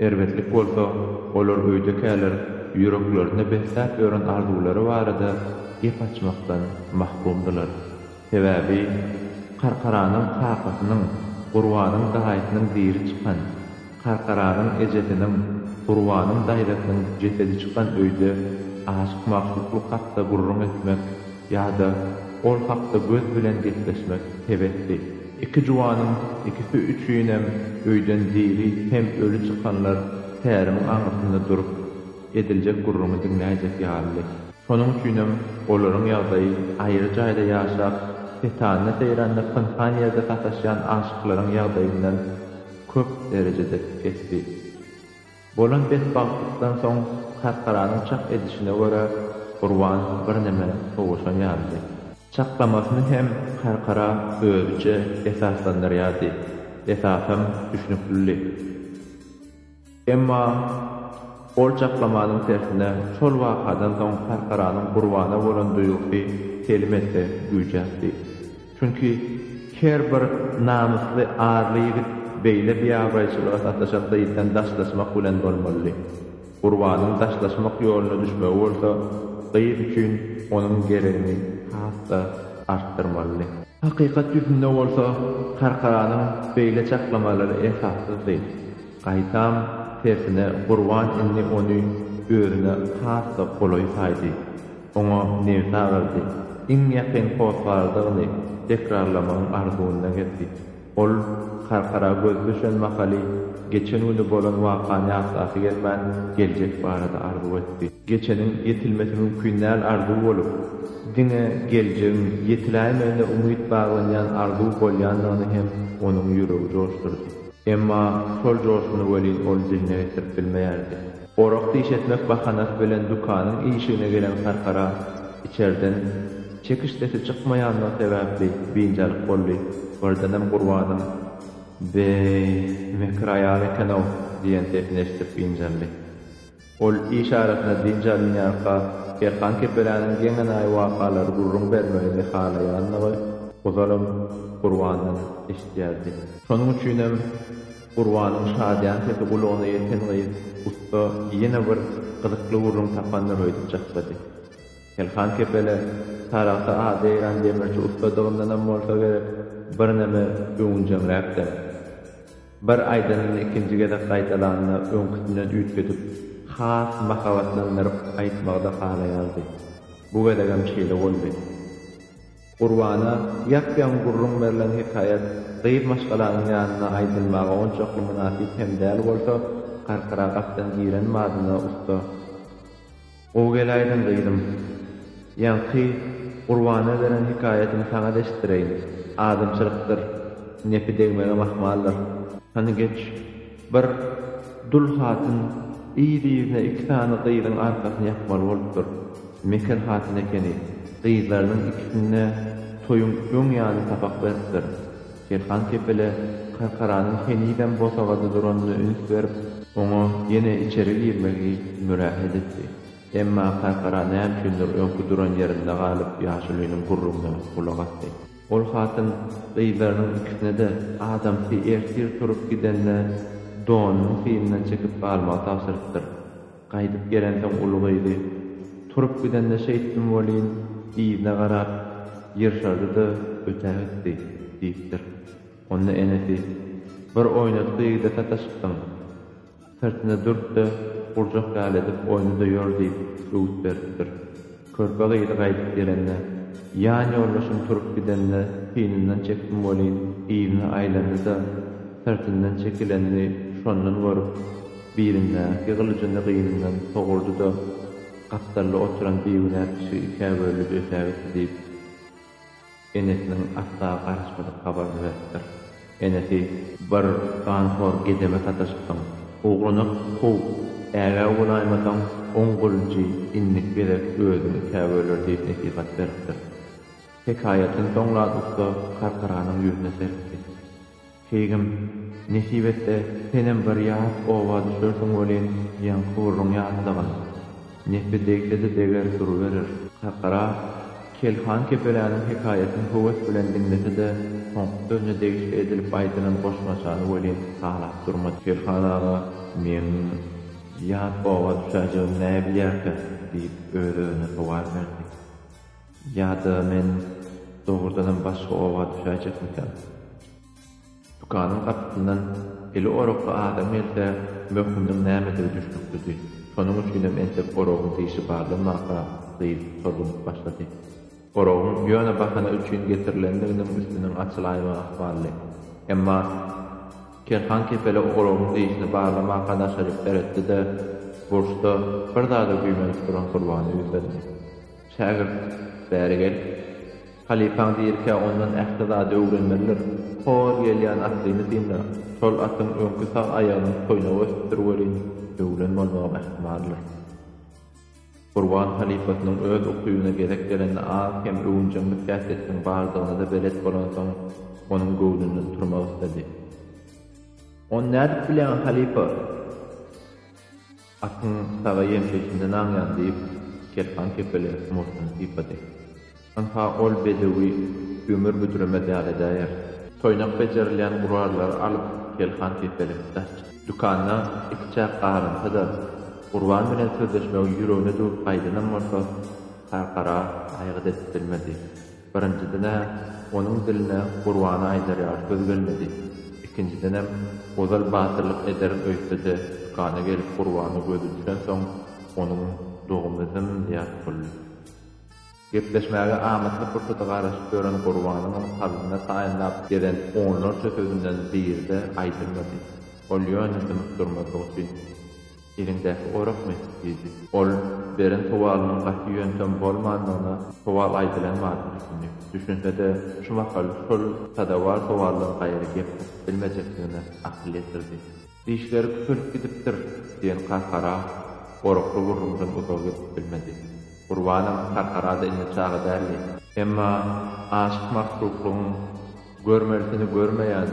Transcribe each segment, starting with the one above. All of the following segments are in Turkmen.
Erbetlik bolsa, olar öýdekäler ýüreklerinde besläp ýören arzuwlary barada gep açmakdan mahrumdylar. Sebäbi Karkaranyň kakasynyň, Gurbanyň daýysynyň diri çykan, Karkaranyň ejesiniň, Gurbanyň daýzasynyň jesedi çykan öýde aşyk-magşuklyk hakda gürrüň etmek, Ýa-da ol hakda göz bilen gepleşmek hebesdi. Iki juwanyň ikisi üçinem öýden diri hem öli çykanlar tärimiň aňyrsynda durup, ediljek gürrüňi diňläýjek ýalydy. Şonuň üçinem olaryň ýagdaýy aýry jaýda ýaşap, setanda-seýranda pynhan ýerde sataşýan aşyklaryň ýagdaýyndan köp derejede pesdi. Bolan betbagtlykdan soň karkaranyň çak edişine görä, Gurban birneme sowaşan ýalydy. Çaklamasyny hem karkara özüçe esaslandyrýardy, esasam düşnüklidi. Emma ol çaklamanyň tersine, şol wakadan soň karkaranyň Gurbana bolan duýgusy telim esse güýjäpdi. Çünki her bir namysly, arly ýigit beýle biabraýçylyga sataşakda ýiten daşlaşmak bilen bolmalydy. Gurbanyň daşlaşmak ýoluna düşmegi bolsa gyz üçin onuň geregini has-da artdyrmalydy. Hakykat ýüzünde bolsa Karkaranyň beýle çaklamalary esassyzdy. Gaýtam, tersine Gurban indi ony özüne has-da golaý saýdy. Oňa nebit agyrdy. Iň ýakyn hossardygyny tekrarlamagyň arzuwynda gezdi. Ol Karkara gözi düşen mahaly geçen güni bolan wakany ýatlasy gelmän, geljek barada arzuw etdi. Geçeniň ýetilmesi mümkin däl arzuw bolup, diňe geljegiň ýetiläýmegine umyt baglanýan arzuw bolýandygyny hem onuň ýüregi joşdurdy. Emma şol joşuny welin ol diline getirip bilmeýärdi. Orak diş etmek bahanasy bilen dükanyň işigine gelen karkara içerden çekiş sesi çykmaýandygy sebäpli biynjalyk boldy, birdenem Gurbanym, Be-eý, mekir aýal eken-ow! diýen sesini eşidip biynjaldy. Ol iş arasynda dynç alynýarka, Erkan kepeläniň geň-enaýy wakalary gürrüň bermegini halaýandygy ozalam Gurbandan eşidýärdi. Şonuň üçinem Gurbanyň şadyýan sesi gulagyna ýeten gyz ussa ýene bir gyzykly gürrüň tapandyr öýdüp jyklady. Telhan kepele Sarahsa ady ýaýran demirçi ussadygyndanam bolsa gerek, birneme öwünjeňräkdem. Bir aýdanyny ikinji gezek gaýdalanda öňküsinden üýtgedip, has mahabatlandyryp aýtmagy-da halaýardy. Bu gezegem şeýle boldy. Gurbana ýap-ýaňy gürrüň berlen hekaýat gyz maşgalanyň ýanynda aýdylmaga onçakly mynasyp hem däl bolsa, Karkara gapdan giren mazyna ussa. Gowy geläýdiň, gyzym. Ýaňky Gurbana beren hekaýatymy saňa-da eşitdireýin. Adamçylykdyr. Nepi degmegem ahmaldyr. Hany geç, Bir dul hatyn yz-yzyna iki sany gyzyň arkasyny ýapmaly bolupdyr. Meken hatyn ekeni. Gyzlarynyň ikisine-de toýuň öň ýany sapak beripdir. Selhan kepele Karkaranyň henizem bosagada duranyna üns berip, oňa ýene içeri girmegi mürähet etdi. Emma Karkara näme üçindir öňki duran ýerinde galyp ýaşulynyň gürrüňine gulak asdy. Ol hatyn gyzlarynyň ikisine-de adamsy ertir turup gidende donunyň syýyndan çekip galmagy tabşyrypdyr. Gaýdyp gelensoň uly gyzy, Turup gidende şeýtdim welin, yzyna garap, ýyrşardy-da ötägitdi, diýipdir. Onda enesi, Bir oýnatgy ýigide sataşypsyň. Syrtynda durup-da, gurjak ýaly edip oýna-da ýör diýip, öwüt beripdir. Körpe gyzy gaýdyp gelende, Ýan ýoldaşym turup gidende synyndan çekdim welin, yzyna aýlandy-da, syrtyndan çekilenini şondan görüp, bilindäki gylyjyny gynyndan sogurdy-da, gapdalda oturan bigünä kişi ikä bölüp ötägitdi diýip. Enesiniň asla garaşmadyk habaryny beripdir. Enesi, Bir ganhor gedeme sataşypsyň. Ogluny kow, ägä bolaýmasaň, oň gulunjy indik gezek özüňi käböler diýip nesihat beripdir. Hekaýatyny soňlan ussa Karkaranyň ýüzüne serpdi. Keýgim, Nesip etse, senem bir ýat oba düşersiň welin, ýaňky-gürrüň ýatlagyn. Nepi degse-de deger duruberer. Kakara, Kel han kepeläniň hekaýasyny höwes bilen diňlese-de, soňky sözüne degişli edilip aýdylan goşmaçany welin halap durmady. Kel han aga, meň ýat oba düşäjegimi näbilýärkä? diýip, öz-özüne sowal berdi. Ýa-da men dogrudanam başga oba düşäýjekmikäm? Dükanyň gapysyndan eli orakly adam gelse, möhüminiň nämedigi düşnüklidi. Şonuň üçinem entek oragyň dişi barlanmanka gyz sorgunyp başlady. Oragyň ýöne bahana üçin getirilendiginiň üstüniň açylaýmagy ykbally. Emma Kerhan kepele oragyň dişini barlamanka naşaryk seretdi-de, burçda bir zada güýmenip duran Gurbana ýüzlendi. Şägirt, Bäri gel. Halypaň dirikä ondan ähli zady öwrenmelidir. Hor gelýän atlyny synla. Şol atyň öňki sag aýagynyň toýnagy ösüpdir welin, öwren bolmagy ähtimaldyr. Gurban halypasynyň öz ukybyna gezek gelende az-kem öwünjeňlik häsiýetiniň bardygyna-da belet bolansoň, onuň göwnünden turmak isledi. Ony nädip bilýäň, halypa? Atyň saga ýeňsesinde naňýan, diýip, Kerhan kepele murtuny sypady. Ynha, ol bedewi ömür büdremez ýaly edäýer. Toýnak bejerilýän gurallary alyp, Kerhan kepele daş çykdy. Dükanda ikiçäk garynsa-da, Gurban bilen sözleşmegi ýüregine düwüp gaýdanam bolsa, Tarkara aýgyt edip bilmedi. Birinjiden-ä, onuň diline Gurbana aýdarýar söz gelmedi. Ikinjidenem, ozal batyrlyk ederin öýtse-de, dükana gelip Gurbana gözi düşensoň, onuň dogumy zym ýat boldy. Gepleşmäge amatly pursady garaşyp ýören Gurbanyňam kalbyna taýynlap gezen onlarça sözünden biri-de aýdylmady. Ol ýöne dymyp durmazlyk üçin. Eliňdäki orakmy? diýdi. Ol beren sowalynyň gaty ýöntem bolmandygyna sowal aýdylan maly düşündi. Düşünse-de, şu mahal şol sadawar sowaldan gaýry gep tapyp bilmejekdigine akyl ýetirdi. Dişleri kütelip gidipdir, diýen Karkara orakly gürrüňden uzaga gidip bilmedi. Gurbanam Karkara-da indi çaga däldi. Emma aşyk-magşuklygyň Görmelisini görmeýän,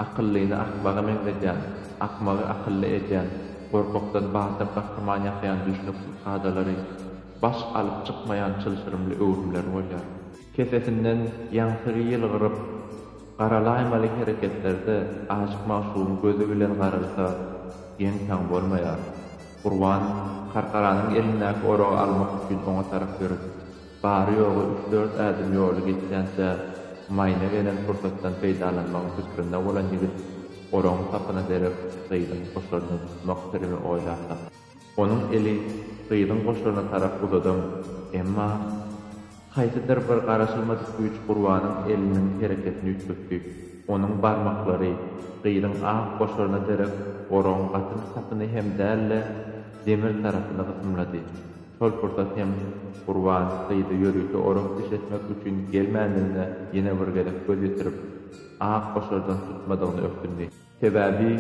akyllyny akmaga meňzedýän, akmagy akylly edýän, gorkakdan batyr gahryman ýasaýan düşnüksiz kadalary, baş alyp çykmaýan çylşyrymly öwrümleri bolýar. Kesesinden ýaňsygy ýylgyryp, garalaýmaly hereketlerde aşyk magşugyň gözi bilen garalsa, geň-taň bolmaýar. Gurban Karkaranyň elindäki oragy almak üçin oňa tarap ýöredi. Bary-ýogy üç-dört ädim ýoly geçýänçä, maýyna gelen pursatdan peýdalanmagyň pikrinde bolan ýigit oraň sapyna derek gyzyň goşaryny tutmak sirimi oýlap tapdy. Onuň eli gyzyň goşaryna tarap uzadam, emma haýsydyr bir garaşylmadyk güýç Gurbanyň eliniň hereketini üýtgetdi. Onuň barmaklary gyzyň ak goşaryna derek oraň gaty bir sapyny hem däl-de, demir tarapyny gysymlady. Şol pursat hem Gurban gyzy ýörite orak iş etmek üçin gelmändigine ýene bir gezek göz ýetirip, ak goşardan tutmadygyny ökündi. Sebäbi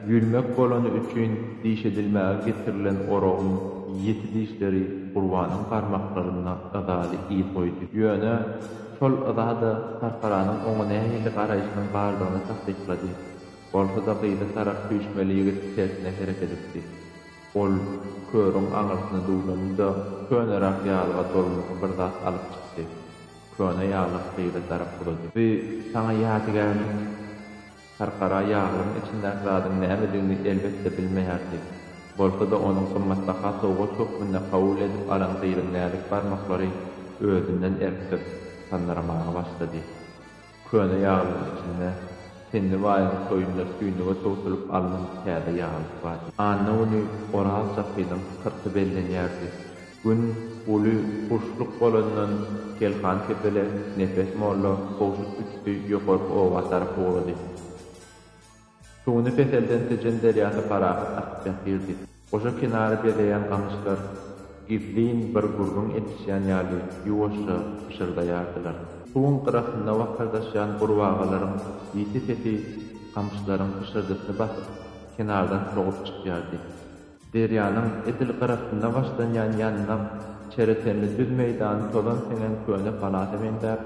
ýülmek bolany üçin diş edilmäge getirilen oragyň ýiti dişleri Gurbanyň barmaklarynda yzaly yz goýdy. Ýöne şol yza-da Tarharanyň oňa nähili garaýşynyň bardygyny tassyklady. Bolsa-da gyzy tarap süýşmeli ýigit tersine hereket etdi. Ol körüň aňyrsyna duwlandy-da, köneräk ýalyga dolmaly bir zat alyp çykdy. Köne ýaglyk gyza tarap uzady. Bu saňa ýadygärlik. Tarkara ýaglygyň içindäki zadyň nämedigini elbetde bilmeýärdi. Bolsa-da onuň gymmatbaha sowgat hökmünde kabul edip alan gyzyň näzik barmaklary özünden erkdir, sandyramaga başlady. Köne ýaglygyň içinde Tenli baýyň toýunda tüýnüge towsulyp alnan täze ýaglyk bardy. Anna güni Oraz çapynyň syrty bellenýärdi. Gün uly guşluk bolandan Kelhan kepele Nepes molla kowşut üsti ýokarky oba tarap ugrady. Suwuny peselden Tejen derýasy parahat akyp ýatyrdy. Goşa kenary bezeýän gamyşlar gizlin bir gürrüň edişýän ýaly ýuwaşja pyşyrdaýardylar. Suwuň gyrasynda wakardaşýan gurbagalaryň ýiti sesi gamyşlaryň pyşyrdysyny basyp, kenardan sogup çykýardy. Derýanyň edil gyrasynda başlanýan ýandak, çere tenli düz meýdany tozan siňen köne palata meňzäp,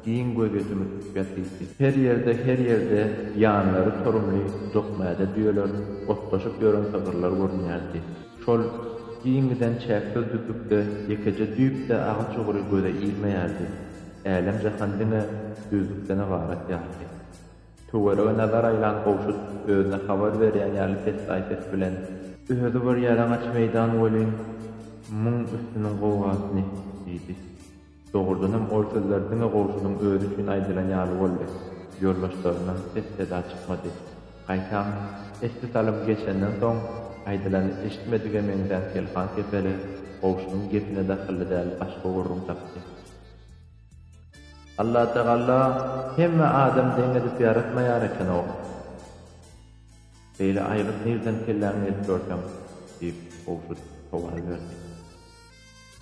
giň gözýetimi tutup ýatypdy. Her ýerde, her ýerde ýanlary torumly dokmäde düýeler otlaşyp ýören sygyrlar görünýärdi. Şol giň giden çäksiz düzlükde ýekeje düýp-de agaç ugry göze ilmeýärdi. Älem-jahan diňe düzlükden ybarat ýalydy. Töwerege nazar aýlan Gowşut özüne habar berýän ýaly pessaý ses bilen. Özi bir ýalaňaç meýdan welin, muň üstüniň gowgasyny! diýdi. Dogrudanam, ol sözler diňe Gowşudyň özi üçin aýdylan ýaly boldy. Ýoldaşlaryndan ses-seda çykmady. Gaýtam, esli salym geçenden soň, aýdylany eşitmedige meňzän Selhan kepeli Gowşudyň gepine dahylly däl başga gürrüň tapdy. Allatagalla hemme adam deň edip ýaratmaýar ekenok. Beýle aýgyt nirden kelläňe gelip görseň? diýip, Gowşut sowal berdi.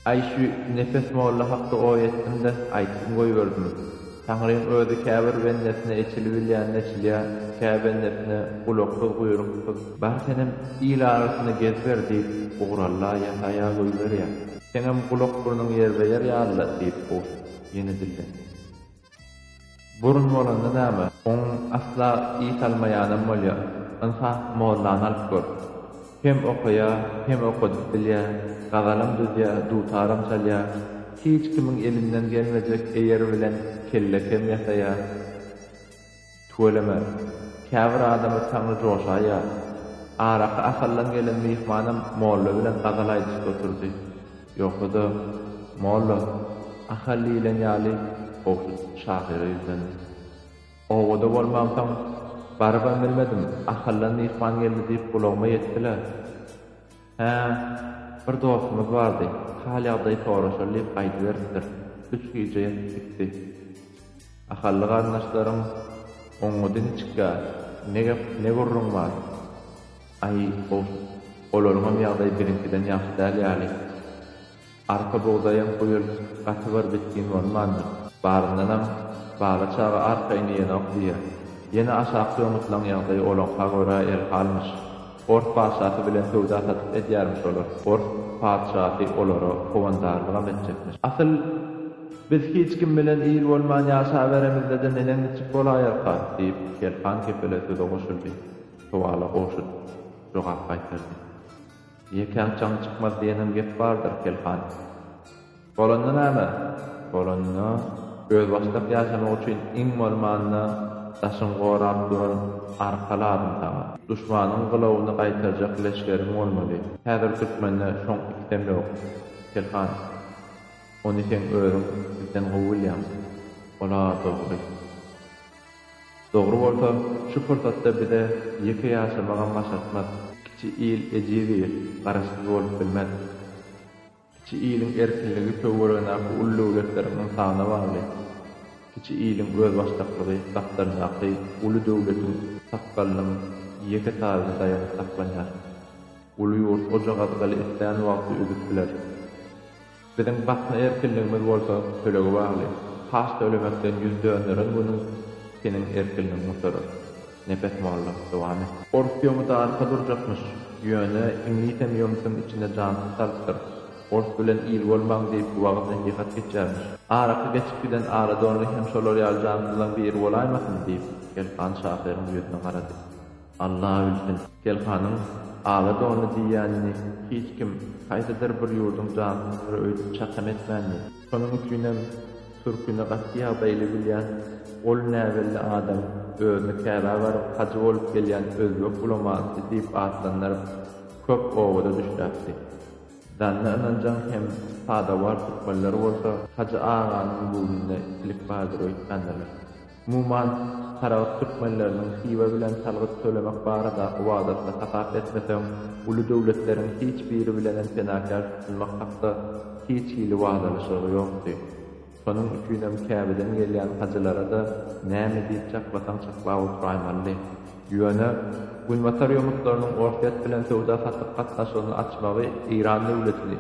Aý şu Nepes molla hakda oý etdim-de, aýtybm goýberdim. Taňryň özi käbir bendesine eçili bilýänini eçilýär, kä bendesine gulaksyz-guýruksyz. Bar senem il arasynda geziber diýip, ugur-alla ýasaýa goýberýär. Seňem gulak-burnuň ýerbe-ýer ýaly-la, diýip, Gowşut ýene dillendi. Burun bolanda näme, oň asla iý salmaýanam bolýa. Ynsap, mollany alyp gör. Hem okaýa, hem okadyp bilýä, gazalam düzýä, dutaram çalýa, hiç kimiň elinden gelmejek eýer bilen kelle-kem ýasaýa. Tüweleme. Käbir adama saňňy joşaýýar. Araky Ahaldan gelen myhmanam molla bilen gazal aýdyşyp oturdy. Ýogsa-da, molla, Ahal diýlen ýaly, gowşut şahyra ýüzlendi. Obada bolmamsoň, barybam bilmedim, Ahaldan myhman geldi diýip gulagyma ýetdi-le. Hä, bir dostumyz bardy, hal-ýagdaý soraşaly diýip aýdyberipdir. Üç gije ýatyp gitdi. Ahally garyndaşlaryň, Oňňudy niçikkä? Ne gep, ne gürrüň bar? Aý, goşt, olaryňam ýagdaýy biziňkiden ýagşy däl ýaly. Arpa bugdaýam bu ýyl gaty bir bitgin bolmandyr. Baryndanam, Bala çaga arpa ini ýenok diýýär. Ýene aşakky öňütlaň ýagdaýy olaňka görä erhalmyş. Ors patyşasy bilen söwda-satyk edýärmiş olar. Ors patyşasy olara howandarlygam etjekmiş. Asyl, biz hiç kim bilen il bolman ýaşaberemizde-de neneň niçik bolaýarka? diýip, Kel han kepele söze goşuldy. Sowala goşut jogap gaýtardy. Ýekäň çaň çykmaz diýenem gep bardyr, Pelhan. Bolanda näme? Bolanda, özbaşdak ýaşamak üçin iň bolmanda daşyň gorap duran arka lazym saňa. Duşmanyň gylawyny gaýtarjak leşgeriň bolmaly. Häzir türkmende şoň ikisem ýok, Pelhan. Ony seň özüň bizden gowy bilýäň. Olar dogry. Dogry bolsa, şu pursatda bize ýeke ýaşamagam başartmaz. Kiçi il ejiz il, garaşsyz bolup bilmez. Kiçi iliň erkinligi töweregindäki uly döwletleriň ynsana bagly, kiçi iliň özbaşdaklygy gapdalyndaky uly döwletiň sakgalynyň ýeke taýyna daýanyp saklanýar. Uly ýurt ojagazgaly islän wagty üzüp biler. Biziň basma erkinligimiz bolsa tölege bagly. Paç tölemekden ýüz dönderen günüň seniň erkinligiň gutarýar. Nepes molla, dowam et. Ors ýomyda arka durjakmyş, ýöne iňlisem ýomytyň içine jansyz salypdyr. Ors bilen il bolmaň diýip wagyz-nesihat geçýärmiş. Araky geçip giden Aladonly hem şolar ýaly jansyzlaň biri bolaýmasyn? diýip, Elhan şahyryň ýüzüne garady. Alla bilsin, Pelkanyň ala dony diýýänini hiç kim, haýsydyr bir ýurduň jansyzlary öýdüp çakym etmändi. Şonuň üçinem türkini gaty ýagdaýly bilýän, ol näbelli adam özüni Käbä baryp hajy bolup gelýän özbek ulamasy diýip atlandyryp, köp owaza düşläpdi. Zanny ynanjaň hem sadawar türkmenler bolsa Hajy aganyň göwnünde ikilik bardyr öýtýändirler. Umuman, Saragt türkmenleriniň Hywa bilen salgyt tölemek baradaky wadasyny hasap etmeseň, uly döwletleriň hiç biri bilenem penakär tutunmak hakda hiç hili wadalaşygy ýokdy. Şonuň üçinem Käbeden gelýän hajylara-da näme diýip çaklasaň çaklap oturaýmalydy. Ýöne, Günbatar ýomutlarynyň Orsýet bilen söwda-satyk gatnaşygyny açmagy Eýran döwletini,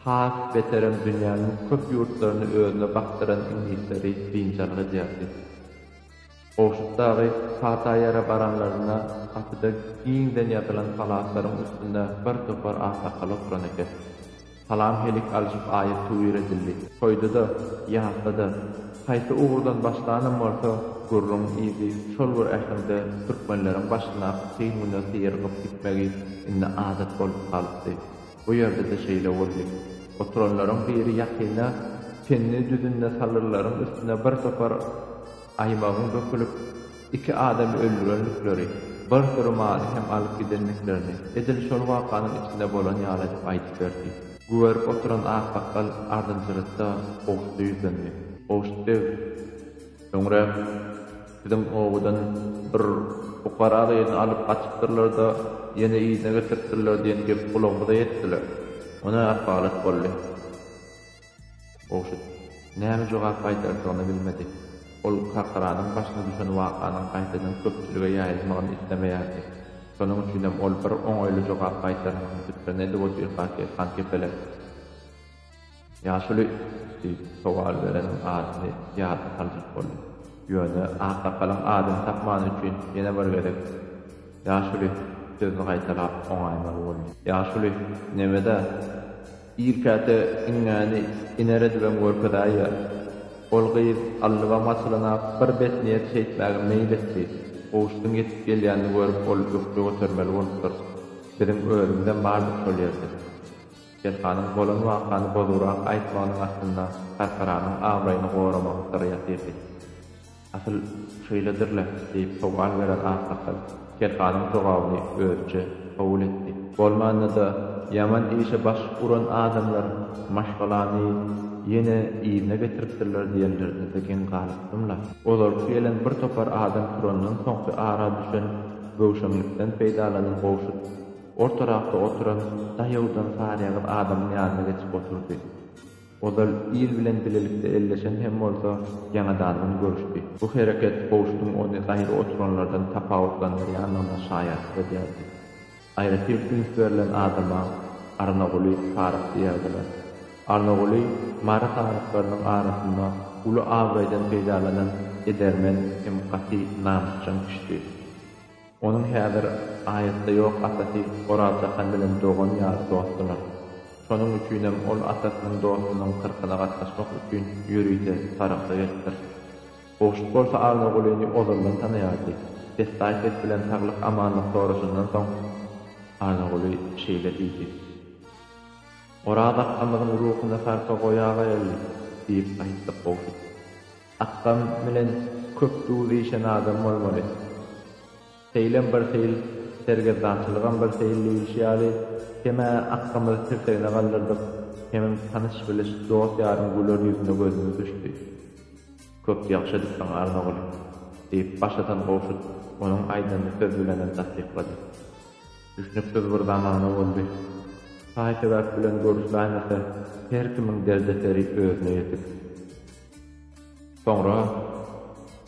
Has beterem dünýäniň köp ýurtlaryny özüne bakdyran iňlisleri biynjalyk edýärdi. Gowşut dagy Pataýara baranlarynda gapyda giňden ýazylan halatlaryň üstünde bir topar aksakal oturan eken. Salam helik alşyp aýyt tuwir edildi. Toýda-da, ýasda-da, haýsy ugurdan başlanam bolsa, gürrüň yzy şol bir äheňde türkmenleriň başyndaky kyn güne syýrygyp gitmegi indi adat bolup galypdy. Bu ýerde-de şeýle boldy. Oturanlaryň biri ýakynda çenli düzünde salyrlaryň üstüne bir topar aýmagyň dökülip, iki adamy öldürendikleri, bir süri maly hem alyp gidendiklerini edil şol wakanyň içinde bolan ýaly edip aýdyp berdi. Güberip oturan aksakgal ardynjyrykda Gowşuda ýüzlendi. Gowşut beg! Soňrak biziň obadan bir pukara gyzyny alyp gaçypdyrlar-da, ýene yzyna getiripdirler diýen gep gulagymyza ýetdiler. O ne ahwalat boldy? Gowşut näme jogap gaýdardygyny bilmedi. Ol Kakyranyň başyna düşen wakanyň gaýtadan köpçülige ýaýylmagyny islemeýärdi. Şonuň üçinem ol bir oňaýly jogap gaýtarmagyň üstüni edip otyrkaky Hankepele. Ýaşuly diýip sowal bereniň adyny ýada saljak boldy. Ýöne aksakalyň adyny tapmany üçin ýene bir gezek Ýaşuly sözüni gaýtalap oňaýmaly boldy. Ýaşuly, nebede, ir käte iňňäni iner edibem görkezäýýär. Ol gyz allybam açylana bir betniýet şeýtmäge meýil etdi. Gowşudyň ýetip gelýänini görüp ol ökje götermeli bolupdyr. Biziň özümizem bardyk şol ýerde. Serkanyň bolan wakany bozugrak aýtmagynyň astynda Sarkaranyň abraýyny goramagyň syry ýatyrdy. Asyl, şeýledir-le? diýip sowal beren aksakal Serkanyň jogabyny özüçe kabul etdi. Bolmanda-da, ýaman işe baş uran adamlar maşgalany ýene yzyna getiripdirler diýenlerine-de geň galypdym-la. Ozalky gelen bir topar adam turandan soňky ara düşen göwşeňlikden peýdalanyp gowşut. Ortaragda oturan daýawdan saryýagyz adamyň ýanyna geçip oturdy. Ozal il bilen bilelikde elleşen hem bolsa, ýaňadandan görüşdi. Bu hereket Gowşudyň ony gaýry oturanlardan tapawutlandyrýandygyna şaýatlyk edýärdi. Aýratyn üns berlen adama Arnaguly saryk diýerdiler. Arnaguly Mary saryklarynyň arasynda uly abraýdan peýdalanan edermen hem gaty namysjaň kişidi. Onuň häzir aýatda ýok atasy Oraz Jahan bilen dogan ýaly dostdular. Şonuň üçinem ol atasynyň dostunyň kyrkyna gatnaşmak üçin ýörite Sarahsa gelipdir. Gowşut bolsa Annagulyny ozaldan tanaýardy. Pessaý ses bilen saglyk-amanlyk soraşandan soň, Annaguly şeýle diýdi. Oraz akgamyzyň ruhuna sarpa goýaga-ýaly! diýip aýtdy Gowşut. Akgam bilen köp duz işen adam bolmaly. Seýlem bir seýil, sergezdançylygam bir seýil diýilişi ýaly, kem-ä Akgamyzy tirsegine galdyrdyk, hemem tanyş-biliş, dost-ýaryň güler ýüzüne gözümiz düşdi. Köp ýagşy edipsiň, Arnogul! diýip, baş atan Gowşut onuň aýdanyny söz bilenem tassyklady. Düşnüksiz bir zamana boldy. Taý-sebäp bilen görüşläýmese, her kimiň derdi-seri özüne ýetik. Soňra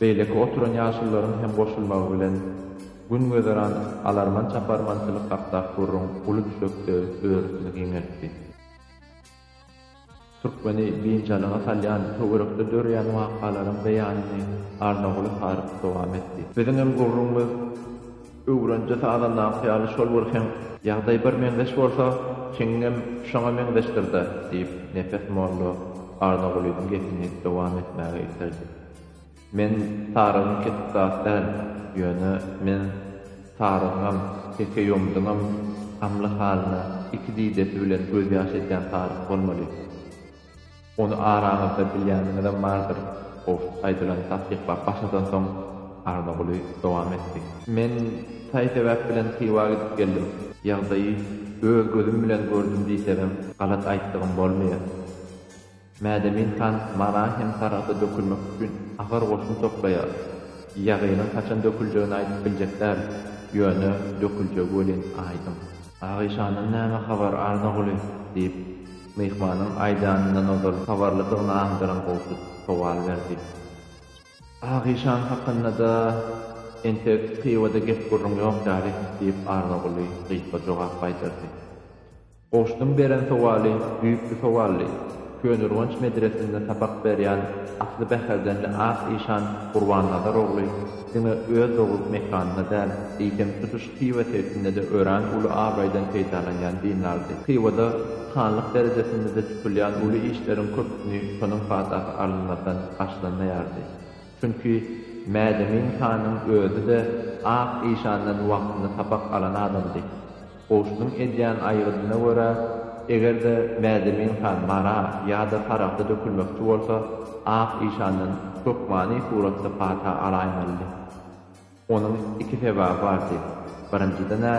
beýleki oturan ýaşulularyň hem goşulmagy bilen Gün gözeran alarman-çaparmançylyk hakdak gürrüň uly düşekde örüsini giňeltdi. Türkmeni biynjalyga salýan töwerekde döreýän wakalaryň beýanyny Arnaguly Haryp dowam etdi. Biziňem gürrüňimiz Öwrenje sazandaky ýaly şol bir heň ýagdaý bir meňzeş bolsa, çeňňem şoňa meňzeşdir-dä, diýip, Nepes molla Arnagulynyň gepini dowam etmäge iterdi. Men sarygyň kesik zat däl, ýöne men sarygyňam, Tekeýomydyňam gamly halyna iki didesi bilen gözýaş edýän saryk bolmaly. Ony araňyzda bilýäniňizem bardyr, gowşut aýdylany tassyklap başadansoň, Arnaguly dowam etdi. Men saý-sebäp bilen Hywa gidip geldim. Ýagdaýy öz gözüm bilen gördüm diýsegem, galat aýtdygym bolmaýar. Mädemin han Mara hem Saragta dökülmek üçin agyr goşun toplaýar. Ýagynyň haçan döküljegini aýdyp biljek däl, ýöne döküljegi welin aýdyň. Agyşandan näme habar, Arnaguly? diýip, Myhmanyň aýdanyndan ozal habarlydygyny aňdyran Gowşut sowal berdi. Agyşan hakynda-da entek Hywada gep-gürrüň ýok ýaly, diýip, Annaguly gysga jogap gaýtardy. Gowşudyň beren sowaly düýpli sowaldy. Köneürgenç medresinde sapak berýän asly bäherdenli Ak işan Gurbannazar ogly diňe öz doglup mekanyna däl, eýsem, tutuş Hywa sebitinde-de örän uly abraýdan peýdalanýan dinlardy. Hywada hanlyk derejesinde-de tutulýan uly işleriň köpüsini şonuň patasy alynmazdan başlanmaýardy. Çünki Mädemin hanyň özi-de Ak işandan wagtynda sapak alan adamdy. Goşunyň edýän aýgydyna görä, eger-de Mädemin han Mara ýa-da Sarahsa dökülmekçi bolsa, Ak işandan hökmany suratda pata alaýmalydy. Onuň iki sebaby bardy. Birinjiden-ä,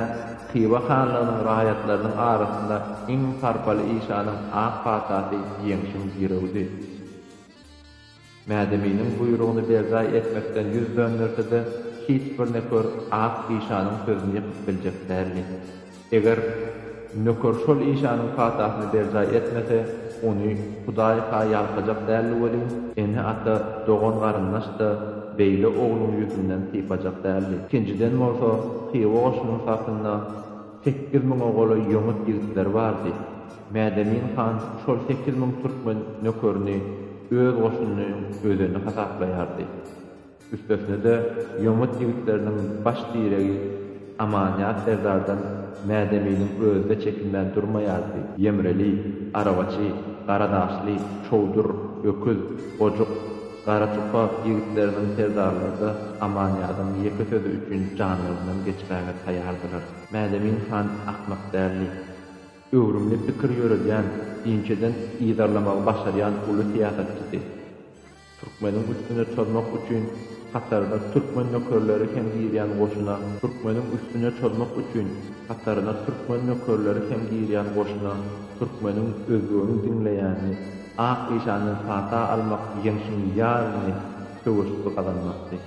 Hywa hanlygynyň raýatlarynyň arasynda iň sarpaly işanyň ak patasy Ýeňşiň girewidi. Mädeminiň buýrugyny berjaý etmekden ýüz dönderse-de, hiç bir nöker ak işanyň sözüni ýykyp biljek däldi. Eger nöker şol işanyň patasyny berjaý etmese, ony Hudaý-ha ýalkajak däldi welin, ene-ata, dogan-garyndaş-da beýle ogluň ýüzünden sypajak däldi. Ikinjiden bolsa, Hywa goşunyň sapynda sekiz müňe golaý ýomut ýigitleri bardy. Mädemin han şol sekiz müň türkmen nökerini öz goşunynyň özeni hasaplaýardy. Üstesine-de, ýomut ýigitleriniň baş diregi Amanýaz serdardan Mädeminiň özi-de çekinmän durmaýardy. Ýemreli, Arabaçy, Garadaşly, Çowdur, Öküz, Gojuk, Garaçupa ýigitleriniň serdarlary-da Amanýazyň ýeke sözi üçin janlaryndan geçmäge taýýardylar. Mädemin han akmak däldi. Öwrümli pikir ýöredýän, inçeden yzarlamagy başarýan uly syýasatçydy. Türkmeniň üstüne çozmak üçin hataryna türkmen nökerleri hem girýän goşuna Türkmeniň üstüne çozmak üçin hataryna türkmen nökerleri hem girýän goşuna Türkmeniň özbegini diňleýänini ak işandan pata almak ýeňşiň ýaryny söweşip gazanmakdy.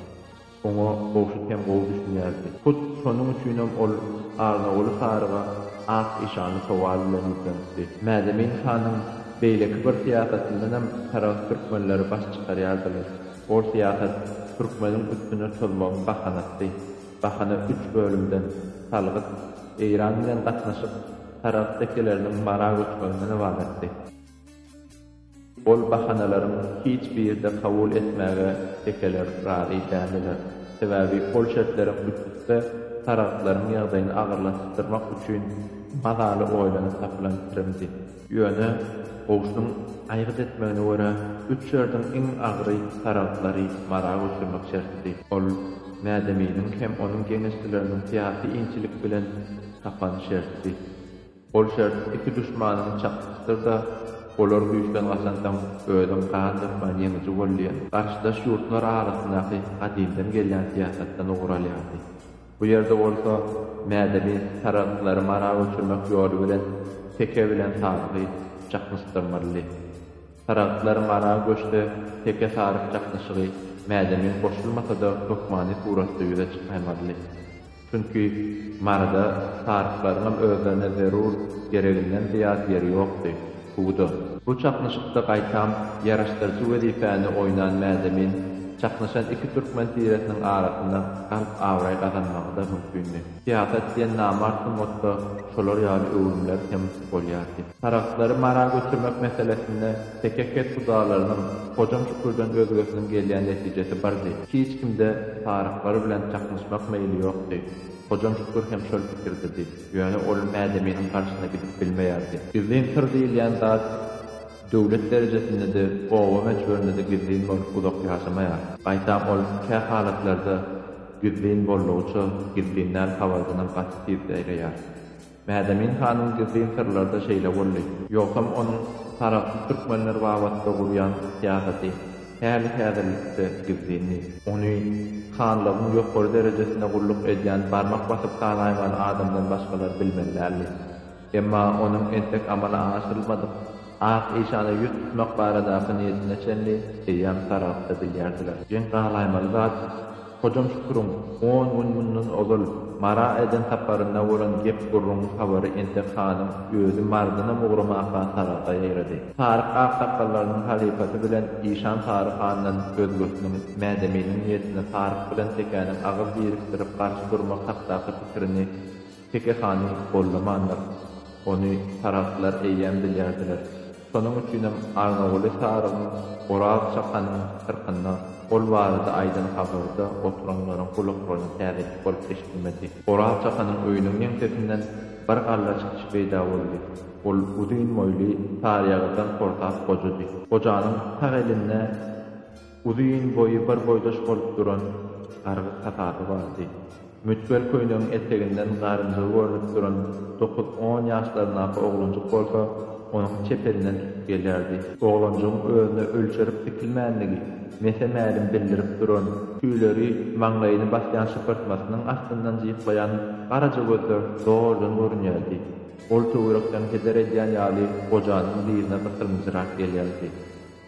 Oňa Gowşut hem gowy düşünýärdi. Hut şonuň üçinem ol Arnaguly saryga ak işanly sowal bilen ýüzlenipdi. Mädemin hanyň beýleki bir syýasatyndanam taragt türkmenleri baş çykarýardylar. Ol syýasat türkmeniň üstüne çozmagyň bahanasydy. Bahana üç bölümden, salgyt, Eýran bilen gatnaşyk, taragt tekeleriniň Mara göçmeginden ybaratdy. Ol bahanalaryň hiç biri-de kabul etmäge tekeler razy däldiler. Sebäbi ol şertleriň üstüsi saragtlaryň ýagdaýyny agyrlaşdyrmak üçin mazaly oýlanyp tapylan çirimdi. Ýöne goşunyň aýgyt etmegine görä, üç şerdiň iň agyry saragtlary Mara göçürmek şertidi. Ol Mädeminiň hem onuň geňeşçileriniň syýasy inçilik bilen tapan şertidi. Ol şert iki duşmanyňy çaknyşdyr-da, olar güýçden gaçansoň, özüň gan dökmän ýeňiji bol diýen, garşydaş ýurtlar arasyndaky gadymdan gelýän syýasatdan ugur alýardy. Bu ýerde bolsa, Mädebi saragtlary Mara göçürmek ýoly bilen Teke bilen Sarygy çaknyşdyrmalydy. Saragtlar Mara göçse, Teke-Saryk çaknyşygy Mädemiň goşulmasa-da hökmany suratda ýüze çykaýmalydy. Çünki Maryda saryklaryňam özlerine zerur gereginden zyýat ýeri ýokdy. Huwda. Bu çaknyşykda gaýtam ýaraşdyryjy wezipäni oýnan Mädemin çaknyşan iki türkmen tiresiniň arasynda galyp abraý gazanmagy-da mümkindi. Syýasat diýen namart sungatda şolar ýaly öwrümler hem bolýardy. Saryklary Mara göçürmek meselesinde Teke kes hudalarynyň, Hojam Şükürden özgesiniň gelýän netijesi birdi. Hiç kimde saryklary bilen çaknyşmak meýli ýokdy. Hojam Şükür hem şol pikirdedi. Ýöne ol Mädeminiň garşyna gidip bilmeýärdi. Gizlin syr diýilýän zat döwlet derejesinde-de, oba möçberinde-de gizlin bolup uzak ýaşamaýar. Gaýtam ol kähalatlarda gizlin boldugyça, gizlinden habardanam gaty tiz seýreýär. Mädemin hanyň gizlin syrlary-da şeýle boldy. Ýogsam onuň tarapsyz türkmenler babatda gurýan syýasaty häli-häzirlikde gizlindi. Ony hanlygyň ýokary derejesinde gulluk edýän barmak basyp sanaýman adamdan başgalar bilmeli däldi. Emma onuň entek amala aşyrylmadyk Ak işana ýüz tutmak baradaky niýetine çenli eýýäm tarapda bilýärdiler. Geň galaýmaly zat, Hojam Şüküriň on gün mundan ozal Mara eden saparynda bolan gep-gürrüňiň habary entek hanyň özi Mardynam ugramaka Saragta ýaýrady. Saryk aksakgallarynyň halypasy bilen işan Sary handan özgesiniň Mädeminiň niýetine Saryk bilen Tekäniň agyz birikdirip garşy durmak hakdaky pikirini Teke hany gollamandyr. Ony saragtlar eýýäm bilýärdiler. Şonuň üçinem Arnaguly Sarygyň oraz çakanyň syrkynda ol barada aýdan habary-da oturanlaryň gulaklaryna täzeçik bolup eşidilmedi. Oraz çakanyň öýüniň ýeňsesinden bir galla çykyş peýda boldy. Ol uzyn boýly, saryýagyrdan portap gojady. Gojanyň sag elinde. Uzyn boýy bir boýdaş bolup duran gargy kasaby bardy. Mütgel köýnegiň eteginden garynjygy görnüp duran dokuz-on ýaşlaryndaky oglanjyk bolsa onuň çepelinden tutup gelýärdi. Oglanjygyň özüne ölçerip dikilmändigi mese-mälim bildirip duran, tüýleri maňlaýyny basýan şypyrtmasynyň astyndan jyklaýan garaja gözler zordan görünýärdi. Ol töwerekden heder edýän ýaly gojanyň dyzyna gysylmyjyrak gelýärdi.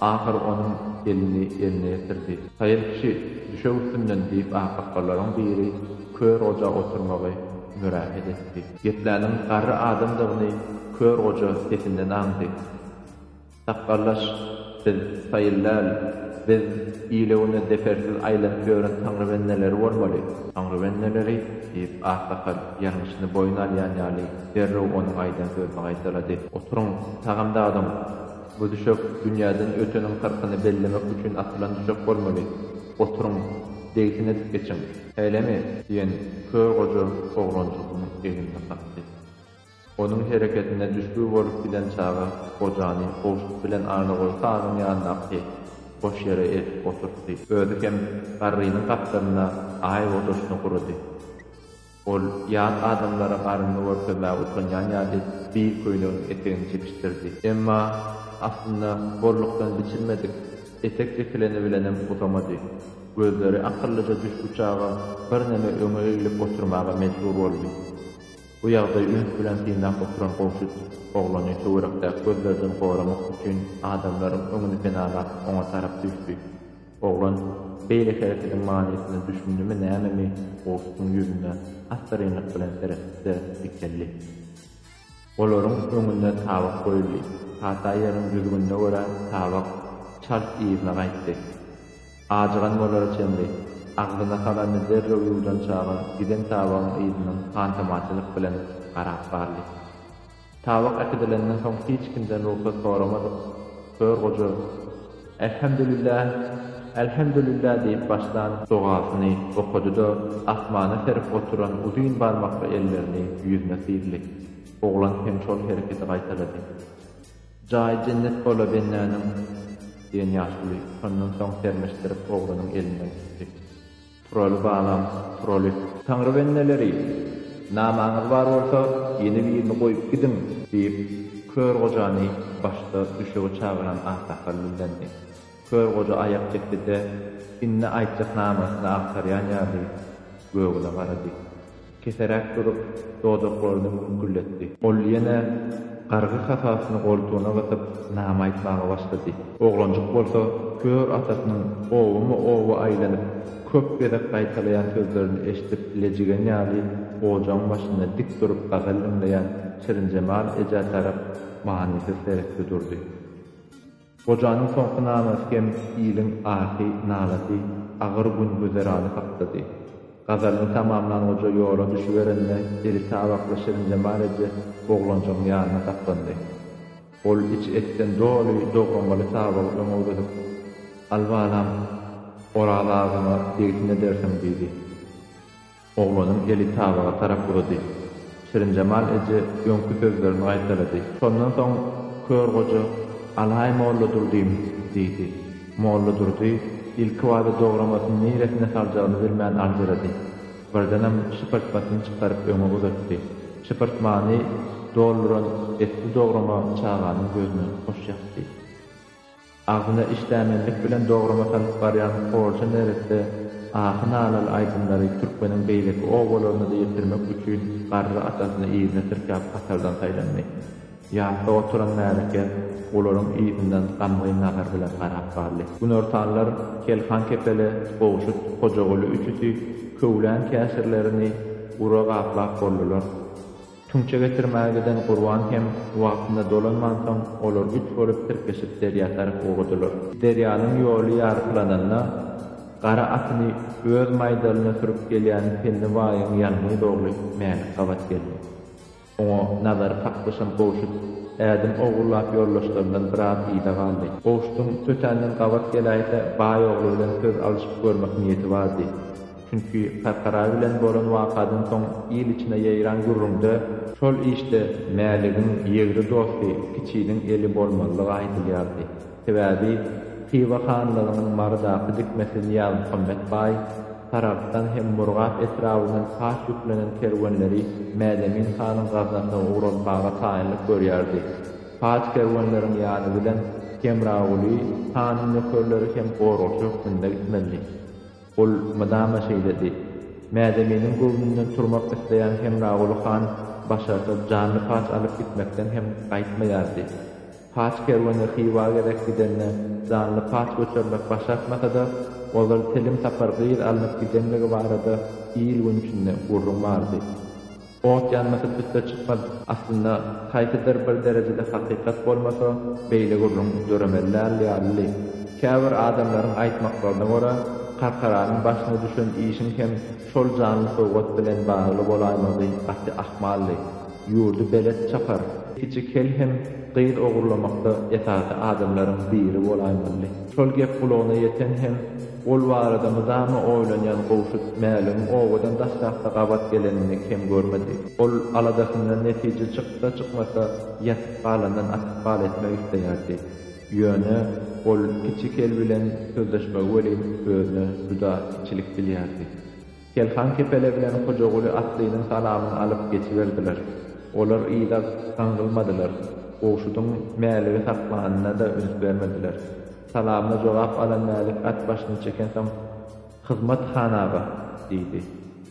Ahyr onuň elini eline ýetirdi. Saýyl kişi, düşe üstünden, diýip, akakgalaryň biri kör goja oturmagy mürähet etdi. Gepläniň garry adamdygyny kör goja sesinden aňdy. Sakgallaş, biz Saýyl däl, biz ile-güne zepersiz aýlanyp ýören taňrybendeleri bolmaly. Taňrybendeleri, diýip, aksakal ýalňyşyny boýun alýan ýaly derrew onuň aýdan sözüni gaýtalady. Oturyň, sagamdadyň! Bu düşek dünýäden öteniň kyrkyny bellemek üçin atylan düşek bolmaly. Oturyň, degsin edip geçiň. Şeýlemi? diýen kör goja oglanjygyň egnine kakdy. Onuň hereketine düşbi bolup giden çaga gojany gowşut bilen Annaguly hanyň ýanyndaky boş ýere eltip oturtdy. Özi hem garrynyň gapdalynda aý ojasyna gurady. Ol ýat adamlara garynyny görkezmäge utanýan ýaly bil köýnegiň etegini çekişdirdi. Emma, aslynda, bollukdan biçilmedik etek çekileni bilenem uzamady. Gözleri akyllyja düşbüçaga birneme öňe eglip oturmaga mejbur boldy. Bu ýagdaýy üns bilen synlap oturan Gowşut oglany töwerekdäki gözlerden goramak üçin adamlaryň öňüni penalap oňa tarap düşdi. Oglan beýle herekediň manysyna düşündimi nämemi Gowsuň ýüzüne assyrynlyk bilen seretdi-de dikeldi. Olaryň öňünde tabak goýuldy. Pata ýeriň düzgünine görä tabak çalt yzyna gaýtdy. Ajygan bolara çenli, agzyna salanyny derrew ýuwdan çaga giden tabagyň yzyndan hantamaçylyk bilen garap galdy. Tabak äkidilenden soň hiç kimden rugsat soramadyk. Hör goja, Älhemdülillah, älhemdülillah diýip başlan dogasyny okady-da, asmana serip oturan uzyn barmakly ellerini ýüzüne syzdy. Oglan hem şol hereketi gaýtalady. Jaýy jennet bola bendäniň! diýen ýaşuly şondan soň sermeşdirip oglanyň elinden tutdy. Turaly balam, Turaly. Taňry bendeleri, namaňyz bar bolsa, ýene birini goýup gidiň! Diýip, Kör gojany başda düşegi çagyran aksakal dillendi. Kör goja aýak çekdi-de, indi aýtjak namasyny agtarýan ýaly, Gögüne garady. Keseräk durup, dodaklaryny müňkülletdi. Ol ýene gargy hasasyny goltugyna gysyp, name aýtmaga başlady. Oglanjyk bolsa kör atasynyň obama-oba aýlanyp, köp gezek gaýtalaýan sözlerini eşidip lejigen ýaly ojagyň başynda dik durup gazal diňleýän Şirinjemal ejä tarap manysyz seretdi durdy. Gojanyň soňky namasy hem iliň ahy, nalasy, agyr gün-güzerany hakdady. Gazalyny tamamlan goja ýola düşüberende eli tabakly Şirinjemal eje oglanjygyň ýanyna saklandy. Ol içi etden doly dogramaly tabagy öňe uzadyp, Al balam, Oraz agyňa degsin edersiň diýdi. Oglanyň eli tabaga tarap uzady. Şirinjemal eje öňki sözlerini gaýtalady. Şondan soň kör goja, Al-haý Molladurdym! diýdi. Molladurdy ilkibada dogramasyny niresine saljagyny bilmän aljyrady. Birdenem şypyrtmasyny çykaryp öňe uzatdy. Şypyrtmany dolduran etli dograma çaganyň gözüne hoş ýakdy. Agzyna işdämenlik bilen dograma salyp barýan horja neresse ahy-nalaly aýdymlary türkmeniň beýleki obalaryna-da ýetirmek üçin garry atasyny yzyna tirkäp hatardan saýlandy. Ýatda oturan märeke olaryň yzyndan gamgyn nazar bilen garap galdy. Günortanlar Kelhan kepele, Gowşut, Hojaguly üçüsi köwlän käşirlerini gura gaplap boldular. Tüňçe getirmäge giden Gurban hem wagtynda dolanmansoň, olar üç bolup tirkeşip derýa tarap ugradylar. Derýanyň ýoly ýarpylananda, gara atyny öz maýdalyna sürüp gelýän Penni baýyň ýanmyz ogly Mälik gabat geldi. Oňa nazary kaklyşan Gowşut ädim owurlap ýoldaşlaryndan biraz yza galdy. Gowşutyň tötänden gabat geläýse baý ogly bilen söz alyşyp görmek niýeti bardy. Çünki Kakara bilen bolan wakadan soň il içine ýaýran gürrüňde, şol işde Mäligiň ýegri dosty Kiçiniň eli bolmalydygy aýdylýardy, sebäbi Hywa hanlygynyň Marydaky dikmesi Nyýazmuhammet baý Saragtdan hem Murgap etrabyndan paç ýüklenen kerwenleri Mädemin hanyň gaznasyna ugratmaga taýynlyk görýärdi. Paç kerwenleriň ýany bilen Hemraguly hanyň nökerleri hem goragçy hökmünde gitmelidi. Ol mydama şeýledi. Mädeminiň göwnünden turmak isleýän Hemraguly han başarsa janly paç alyp gitmekden hem gaýtmaýardy. Paç kerweni Hywa gezek gidende janly paç göçermek başartmasa-da, ozal telim sapar gyz alnyp gidenligi barada il-gün içinde gürrüň bardy. Ot ýanmasy tüsse çykmaz. Aslynda, haýsydyr bir derejede hakykat bolmasa, beýle gürrüň döremeli däl ýalydy. Käbir adamlaryň aýtmaklaryna görä, Karkaranyň başyna düşen işiň hem şol janly sowgat bilen bagly bolaýmagy gaty ahmaldy. Ýurdy belet çapar. Kiçi kel hem gyz ogurlamakda esasy adamlaryň biri bolaýmalydy. Şol gep gulagyna ýeten hem. Ol barada mydama oýlanýan Gowşut Mäligiň obadan daşrakda gabat gelenini kem görmedi. Ol aladasyndan netije çyksa-çykmasa, ýatyp galandan atyp gal etmek isleýärdi. Ýöne, ol Kiçi Kel bilen sözleşmegi welin özüne juda kiçilik bilýärdi. Kelhan kepele bilen Hojaguly atlynyň salamyny alyp geçiberdiler. Olar yza gaňrylmadylar, Gowşudyň Mäligi saklanyna-da üns bermediler. Salamyna jogap alan Mälik at başyny çekensoň, Hyzmat, han aga! diýdi.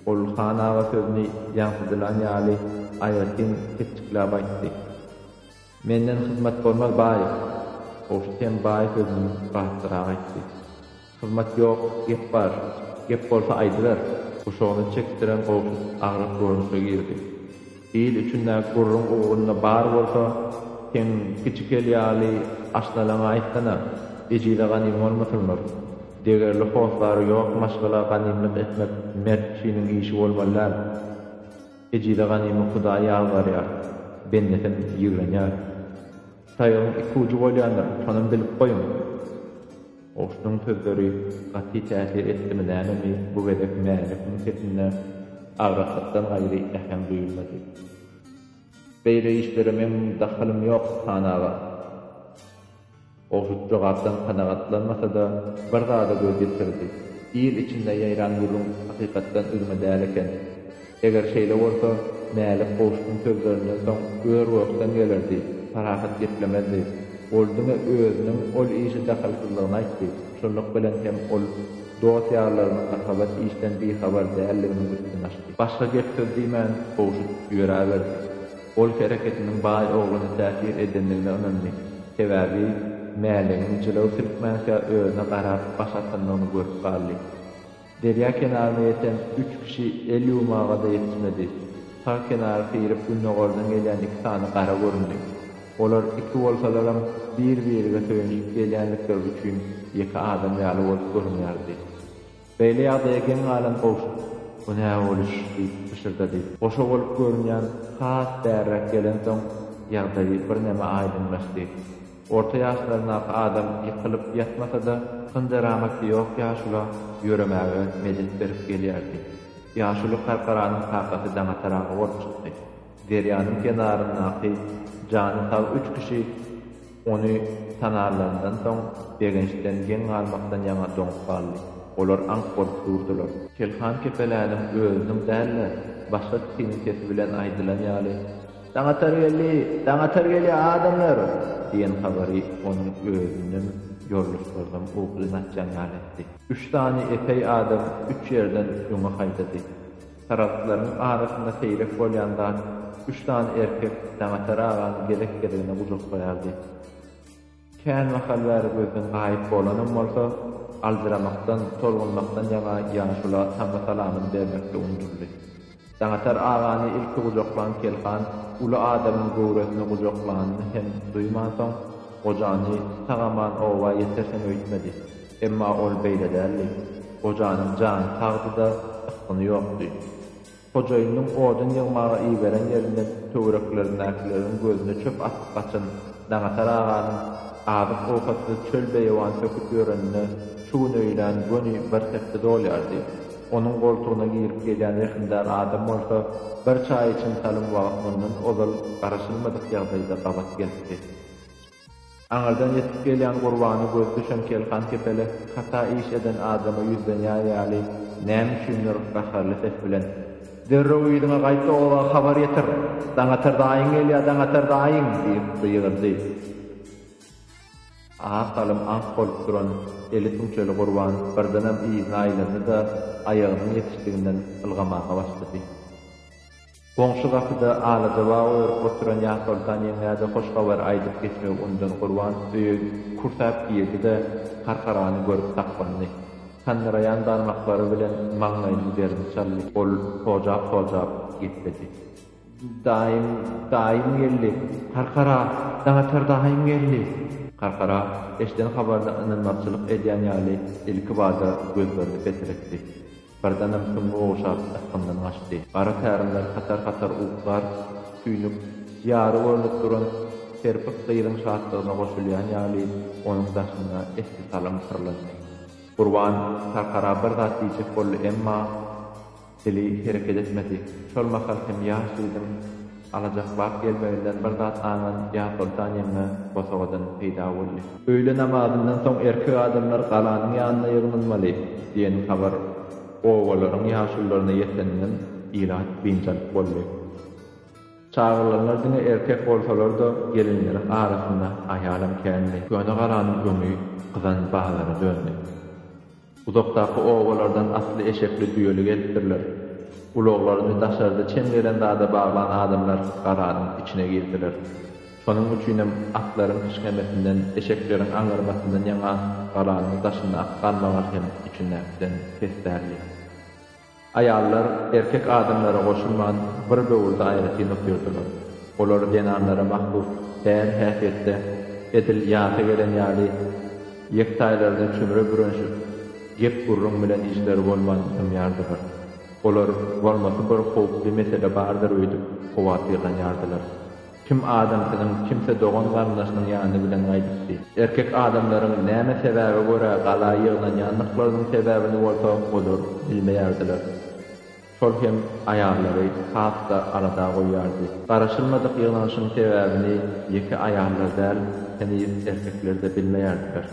Ol han aga sözüni ýaňsydylan ýaly aýratyn ketjikläp aýtdy. Menden hyzmat bolmaz, baý! Gowşut hem baý sözüni batlyrak aýtdy. Hyzmat ýok, gep bar. Gep bolsa aýdyber. Guşagyny çekdiren Gowşut agras görnüşe girdi. Il içinde gürrüň ugrunda bar bolsa, seň kiçi kel ýaly aşnalaňa aýtsana, ejize ganym bolmasynlar. Degerli hossary ýok maşgala ganymlyk etmek mert kişiniň işi bolmaly däl. Ejize ganymy Hudaý ýazgarýar, bendesem ýigrenýär. Taýagyň iki ujy bolýandyr, şonam bilip goýuň! Goşunyň sözleri gaty täsir etdimi nämemi, bu gezek Mälikiň sesinde agraslykdan gaýry äheň duýulmady. Beýle işlere meň dahylym ýok, han aga! Goşut jogapdan kanagatlanmasa-da, bir zada göz ýetirdi, Il içinde ýaýran gürrüň hakykatdan üzňe däl eken. Eger şeýle bolsa, Mälik goşgyň sözlerinden soň ör-gökden gelerdi, parahat geplemezdi. Ol diňe özüniň ol işe dahylsyzlygyny aýtdy, şunluk bilen hem ol dost-ýarlarynyň Akabat işden bihabar däldiginiň üstüni açdy. Başga gep-söz diýmän, Howşut ýöräberdi. Ol hereketiniň baý ogluna täsir edendigine ynandy. Sebäbi Mäligiň jylaw silkmänkä özüne garap baş atandygyny görüp galdy. Derýa kenaryna ýeten üç kişi el ýuwmaga-da ýetişmedi. Sag kenary syryp gündogardan gelýän iki sany gara göründi. Olar iki bolsalaram bir-birige söýenişip gelýändikleri üçin ýeke adam ýaly bolup görünýärdi. Beýle ýagdaýa geň galan Gowşut, Bu nä boluş? diýip pyşyrdady. Goşa bolup görünýän has bärräk gelensoň ýagdaýy birneme aýdyňlaşdy. Orta ýaşlaryndaky adam ýykylyp ýatmasa-da, hynjyramaty ýok ýaşula ýöremäge medet berip gelýärdi. Ýaşuly karkaranyň kakasy Daňataraga bolup çykdy. Derýanyň kenaryndaky jany sag üç kişi ony tanarlaryndan soň, begençden geň galmakdan ýaňa doňup galdy. Olar aňk bolup durdular. Telhan kepeläniň özüniň däl-de, başga kişiniň sesi bilen aýdylan ýaly. Daňatar geldi! Daňatar gelýär, adamlar! diýen habary onuň özünden ýoldaşlarynam ugry naçjan ýaly etdi. Üç sany epeý adam üç ýerden öňe haýdady. Saragtlaryň arasynda seýrek bolýan zat, üç sany erkek Daňatar agany gezek-gezegine gujaklaýardy. Känmahal bäri gözden gaýyp bolanam bolsa, aljyramakdan, tolgunmakdan ýaňa ýaşula tama salamyny bermekde unjuldy. Daňatar agany ilki gujaklan Kelhan uly adamyň göwresini gujaklanyny hem duýmansoň, gojany sag-aman oba ýetersiň öýtmedi. Emma ol beýle däldi. Gojanyň jany sagdy-da, ysgyny ýokdy. Hojaýynyň odun ýygmaga iberen ýerinde töwereklerindäkileriň gözüne çöp atyp gaçan Daňatar aganyň azyk-owkatsyz çöl-beýewan söküp ýörenine şu gün öýlän göni bir hepde dolýardy. Onuň goltugyna girip gelýän rehimdar adam bolsa, bir çaý içim salym wagt mundan ozal garaşylmadyk ýagdaýda gabat gelipdi. Aňyrdan ýetip gelýän Gurbana gözi düşen Kelhan kepele hata iş eden adama ýüzlenýär ýaly näme üçindir gaharly ses bilen, Derrew yzyňa gaýt-da oba habar ýetir! Daňatar daýyň gelýär, Daňatar daýyň! diýip gygyrdy. Az salym aňk bolup duran eli tüňçeli Gurban birdenem yzyna aýlandy-da, aýagynyň ýetişdiginden ylgamaga başlady. Goňşy gapyda alaja bag örüp oturan Ýasoltan ýeňňä-de hoş habar aýdyp geçmegi unudan Gurban öýe kürsap girdi-de, Karkarany görüp saklandy. Sandyraýan barmaklary bilen maňlaýynyň derini çaldy. Ol pojap-pojap gepledi. Daýym, daýym geldi! Karkara, daňatar daýym geldi! Karkara eşden habaryna ynanmazçylyk edýän ýaly ilkibada gözlerini petretdi. Birdenem süňňi ogşap, ysgyndan gaçdy. Gara tärimler hatar-hatar uklar, tüýnük, ýary görnüp duran serpik gyzyň şatlygyna goşulýan ýaly, onuň daşynda esli salym pyrlandy. Gurban Tarhara bir zat diýjek boldy, emma dili hereket etmedi. Şol mahal hem ýaş gyzyň Alajaklap gelmeginden bir zat haňan ýa Soltan ýeňňe bosagadan peýda boldy. Öýle namazyndan soň erkek adamlar galanyň ýanyna ýygnalmaly diýen habar obalaryň ýaşulularyna ýeteninden ilat biynjalyk boldy. Çagyrylanlar diňe erkek bolsalar-da, gelinleriň arasynda aýalam kändi. Köne galanyň öňi gyzan bazara döndi. Uzakdaky obalardan atly eşekli düýeli gelipdirler. Ulaglaryny daşarda çem gelen zada baglan adamlar garadyň içine girdiler. Şonuň üçinem atlaryň kişňemesinden, eşekleriň aňňyrmasyndan ýaňa garadyň daşynda at galmaga hem içindäkiden pes däldi. Aýallar erkek adamlara goşulman bir böwürde aýratyn otyrdylar. Olar zenanlara mahsus däl häsiýetde, edil ýasa gelen ýaly, ýektaýlaryny çümre bürenşip, gep-gürrüň bilen işleri bolman dymýardylar. Olar bolmasy bir howply mesele bardyr öýdüp howatyrlanýardylar. Kim adam siziň kimse dogan garyndaşynyň ýany bilen gaýdypdy. Erkek adamlaryň näme sebäbe görä gala ýygnanýandyklarynyň sebäbini bolsa olar bilmeýärdiler. Şol hem aýallary has-da alada goýýardy. Garaşylmadyk ýygnanyşyň sebäbini ýeke aýallar däl, heniz erkekler-de bilmeýärdiler.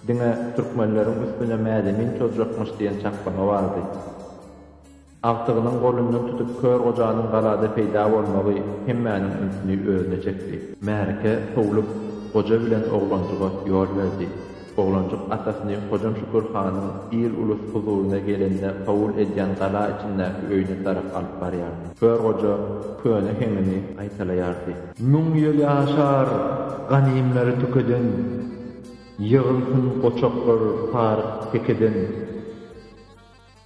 Diňe türkmenleriň üstüne mädemin çozjakmyş diýen çaklygy bardy. Agtygynyň golundan tutup kör gojanyň galada peýda bolmagy hemmäniň ünsüni özüne çekdi. Märeke sowlup, goja bilen oglanjyga ýol berdi. Oglanjyk atasyny Hojam Şükür hanyň il-ulus huzuryna gelende kabul edýän gala içindäki öýüne tarap alyp barýardy. Kör goja köne heňini gaýtalaýardy. Müň ýyl ýaşar, ganymlary tükeden, Ýygylsyn goçaklar saryk tekeden.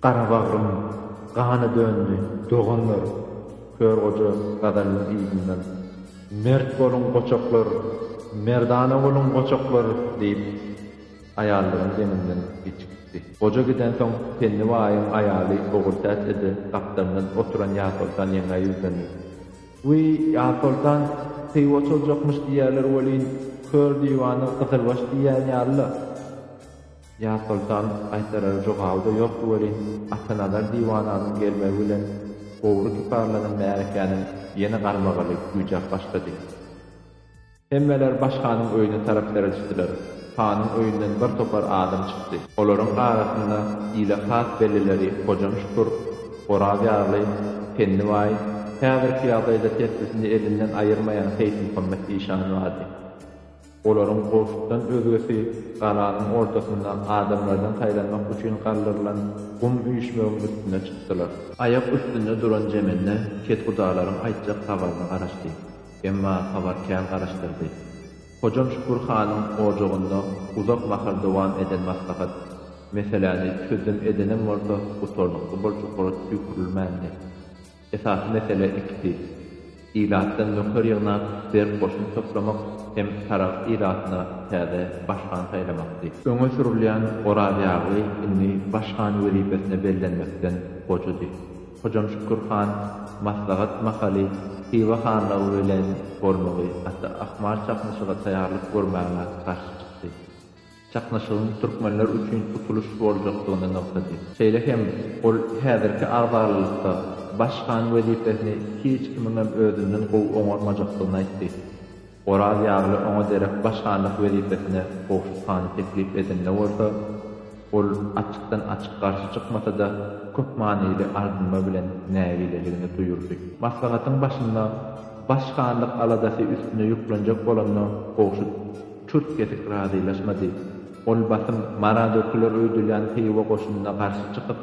Garabagrym gana döndi, doganlar! Kör goja gazalynyň yzyndan, Mert boluň, goçaklar! Merdana boluň, goçaklar! diýip, aýallaryň deňinden geçip gitdi. Goja gidensoň, Penni baýyň aýaly Ogultäç eje gapdalyndan oturan Ýasoltan ýeňňä ýüzlendi. Wiý, Ýasoltan, peýwoç oljakmyş diýýärler welin, kör diwany gyzylbaş diýýän ýaly-la. Ýasoltan gaýtarar jogaby-da ýokdy welin, Atanazar diwananyň gelmegi bilen gowry kiparlanan märekäniň ýene garmagaly güýjäp başlady. Hemmeler baş hanyň öýüne tarap seredişdiler. Hanyň öýünden bir topar adam çykdy. Olaryň arasynda ile has bellileri Hojam Şükür, Oraz ýarly, Penni baý, häzirki ýagdaýda tesbisini elinden aýyrmaýan Seýitmuhammet işan bardy. Olaryň golşukdan özgesi galanyň ortasynda adamlardan saýlanmak üçin galdyrylan gum üýşmegiň üstüne çykdylar. Aýak üstünde duran Jemende kethudalaryň aýtjak habaryna garaşdy. Emma habar kän garaşdyrdy. Hojam Şükür hanyň ojagynda uzak mahal dowam eden maslahat, meseläni çözüm edenem bolsa gutarnykly boljaklara tüýkürilmändi. Esasy mesele ikisi. Ilatdan nöker ýygnap, berk goşun toplamak hem saragt ilatyna täze baş han saýlamakdy. Öňe sürülýän Orazýagly indi baş han wezipesine bellenmekden gojady. Hojam Şükür han maslahat mahaly Hywa hanlygy bilen bolmagy, Ata Akmar çaknyşyga taýýarlyk görmäge garşy çykdy. çaknyşygyň türkmenler üçin utulyş boljakdygyny nygtady. Şeýle hem ol häzirki agzalylykda baş han wezipesini hiç kimiňem özünden gowy oňarmajakdygyny aýtdy. Oraz Ýagly oňa derek baş hanlyk wezipesine Gowşut hany teklip edende bolsa, ol açykdan-açyk garşy çykmasa-da, köp manyly ardynma bilen nägileligini duýurdy. Maslahatyň başynda baş hanlyk aladasy üstüne ýüklenjek bolanda Gowşut. Çürt kesik razylaşmady. Ol basym Mara döküler öýdülýän Hywa goşunyna garşy çykyp,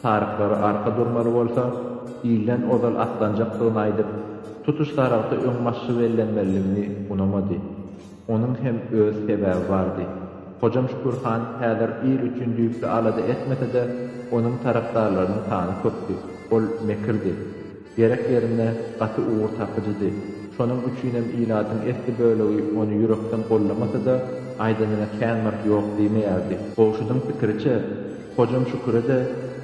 saryklary arka durmaly bolsa, ilden ozal atlanjakdygyny aýdyp, tutuş sarygty öň maşşy bellenmeliligini unamady. Onuň hem öz sebäbi bardy. Hojam Şükür han häzir il üçin düýpli alada etmese-de, onuň tarapdarlarynyň sany köpdi. Ol mekirdi. Gerek ýerinde gaty ugur tapyjydy. Şonuň üçinem ilatyň esli bölegi ony ýürekden gollamasa-da, aýdanyna kän bir ýok diýmeýärdi. Gowşudyň pikiriçe, Hojam Şüküre-de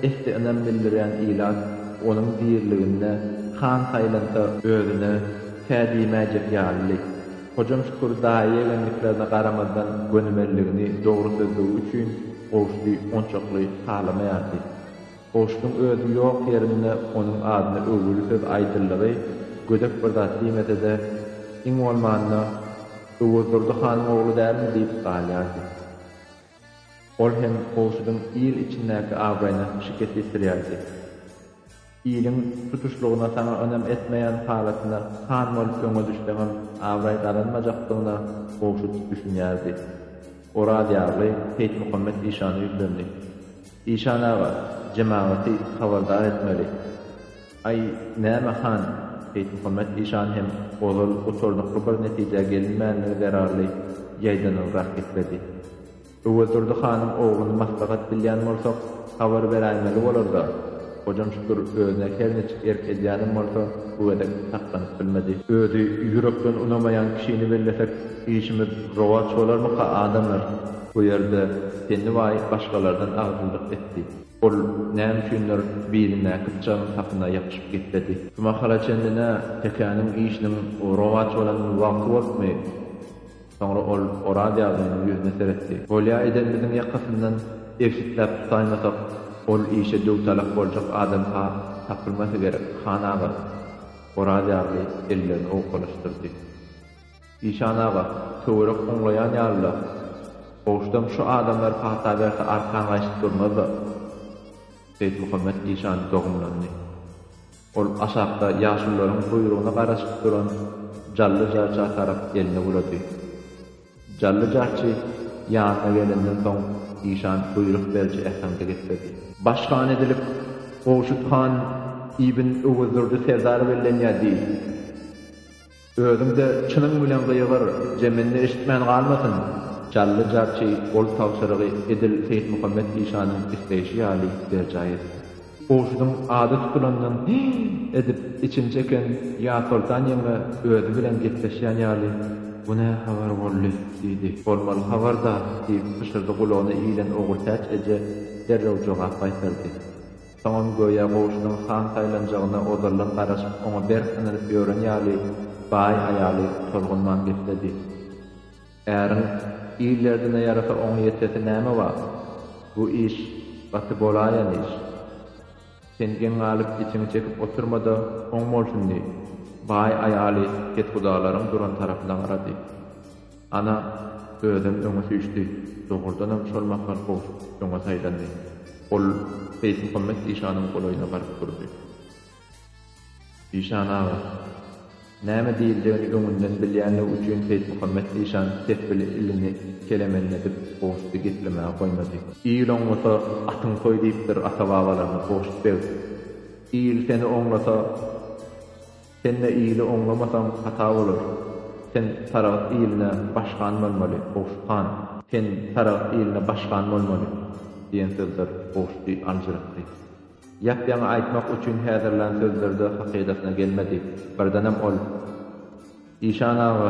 esli ynam bildirýän ilat onuň diriliginde han saýlansa özüne kä diýmäýjek ýalydy. Hojam Şükür daýy-ýegenliklerine garamazdan gönümelligini dogry sözlügi üçin Gowşudy onçakly halamaýardy. Goşgyň özi ýok ýerinde onuň adyna öwgüli söz aýdyldygy gödek bir zat diýmese-de, iň bolmanda, Öwezdurdy hanyň ogly dälmi diýip galýardy. Ol hem Gowşudyň il içindäki abraýyna şikes ýetirýärdi. Iliň tutuşlygyna saňa ynam etmeýän halatyna han bolup öňe düşseňem abraý gazanmajakdygyna Gowşut düşünýärdi. Oraz ýagly Seýitmuhammet işana ýüzlendi. Işan aga, jemagaty habardar etmeli. Aý, näme han, Seýitmuhammet işan hem ozal gutardykly bir netijä gelinmänligi zerarly ýaýdanylrak gepledi. Öwezdurdy hanyň ogluny maslahat bilýän bolsak, habar beräýmeli bolar-da. Hojam şükür özüne her niçik erk edýänem bolsa, bu gezek saklanyp bilmedi. Özi ýürekden unamaýan kişini bellesek, işimiz rowaç bolarmyka, adamlar? Bu ýerde Penniwaý başgalardan agzybirlik etdi. Ol näme üçindir bilindäki pyçagyň sapyna ýapyşyp gepledi. Şu mahala çenli-de Tekäniň işiniň rowaç bolan wagty bolupmy? Soňra ol Oraz ýazynyň ýüzüne seretdi. Bolýa edenimiziň ýakasyndan ebsitläp tutaýmasak, ol işe döwtalak boljak adam-ha tapylmasa gerek, han aga? Oraz ýazly ellerini owkalaşdyrdy. Işan aga, töwerek oňlaýan ýaly-la. Goşdam şu adamlar pata berse arkan gaýşyp durmaz-da. Seýitmuhammet işan dogumlandy. Ol aşakda ýaşulularyň guýrugyna garaşyp duran Jally jarça tarap elini bulady. Jally jarçy ýanyna gelenden soň işan buýruk beriji äheňde gepledi. Baş han edilip Gowşut han ibn Öwezdurdy serdar bellenýär diý. Özüň-de çynyň bilen gygyr, zeminde eşitmän galmasyn! Jally jarçy ol tabşyrygy edil Seýitmuhammet işanyň isleýşi ýaly berjaý etdi. Gowşudyň ady tutulandan Hä! edip içini çeken Ýazsoltan ýeňňe özi bilen gepleşýän ýaly, Bu nä habar boldy? diýdi. Bolmaly habar-da! diýip pyşyrdy gulagyna ilen Ogultäç eje derrew jogap gaýtardy. Soňam göýä goşunyň san saýlanjagyna ozaldan garaşyp, oňa berk ynanyp ýören ýaly, baý aýaly tolgunman gepledi. Äriň il derdine ýarasa oňa ýetesi näme bar? Bu iş gaty bolaýan iş. Sen geň galyp içiňi çekip oturma-da, oň bolsun diý. Baý aýaly kethudalaryň duran tarapyna garady. Ana, özem öňe süýşdi. Dogrudanam şol mahal Gowşut öňe saýlandy. Ol Seýitmuhammet işanyň golaýyna baryp durdy. Işan aga! Näme diýiljegini öňünden bilýänligi üçin Seýitmuhammet işan tesbili ilini kelemenledip Gowşudy geplemäge goýmady. Il oňlasa, atyň soý diýipdir ata-babalarymyz Gowşut beg. Il seni oňlasa. Sen-de ili oňlamasaň hata bolar. Sen Saragt iline başkan bolmaly, Gowşut han. Sen Saragt iline başkan bolmaly, diýen sözler Gowşuty aljyratdy. Ýap-ýaňy aýtmak üçin häzirlän sözleri-de hakydasyna gelmedi. Birdenem ol, Işan aga,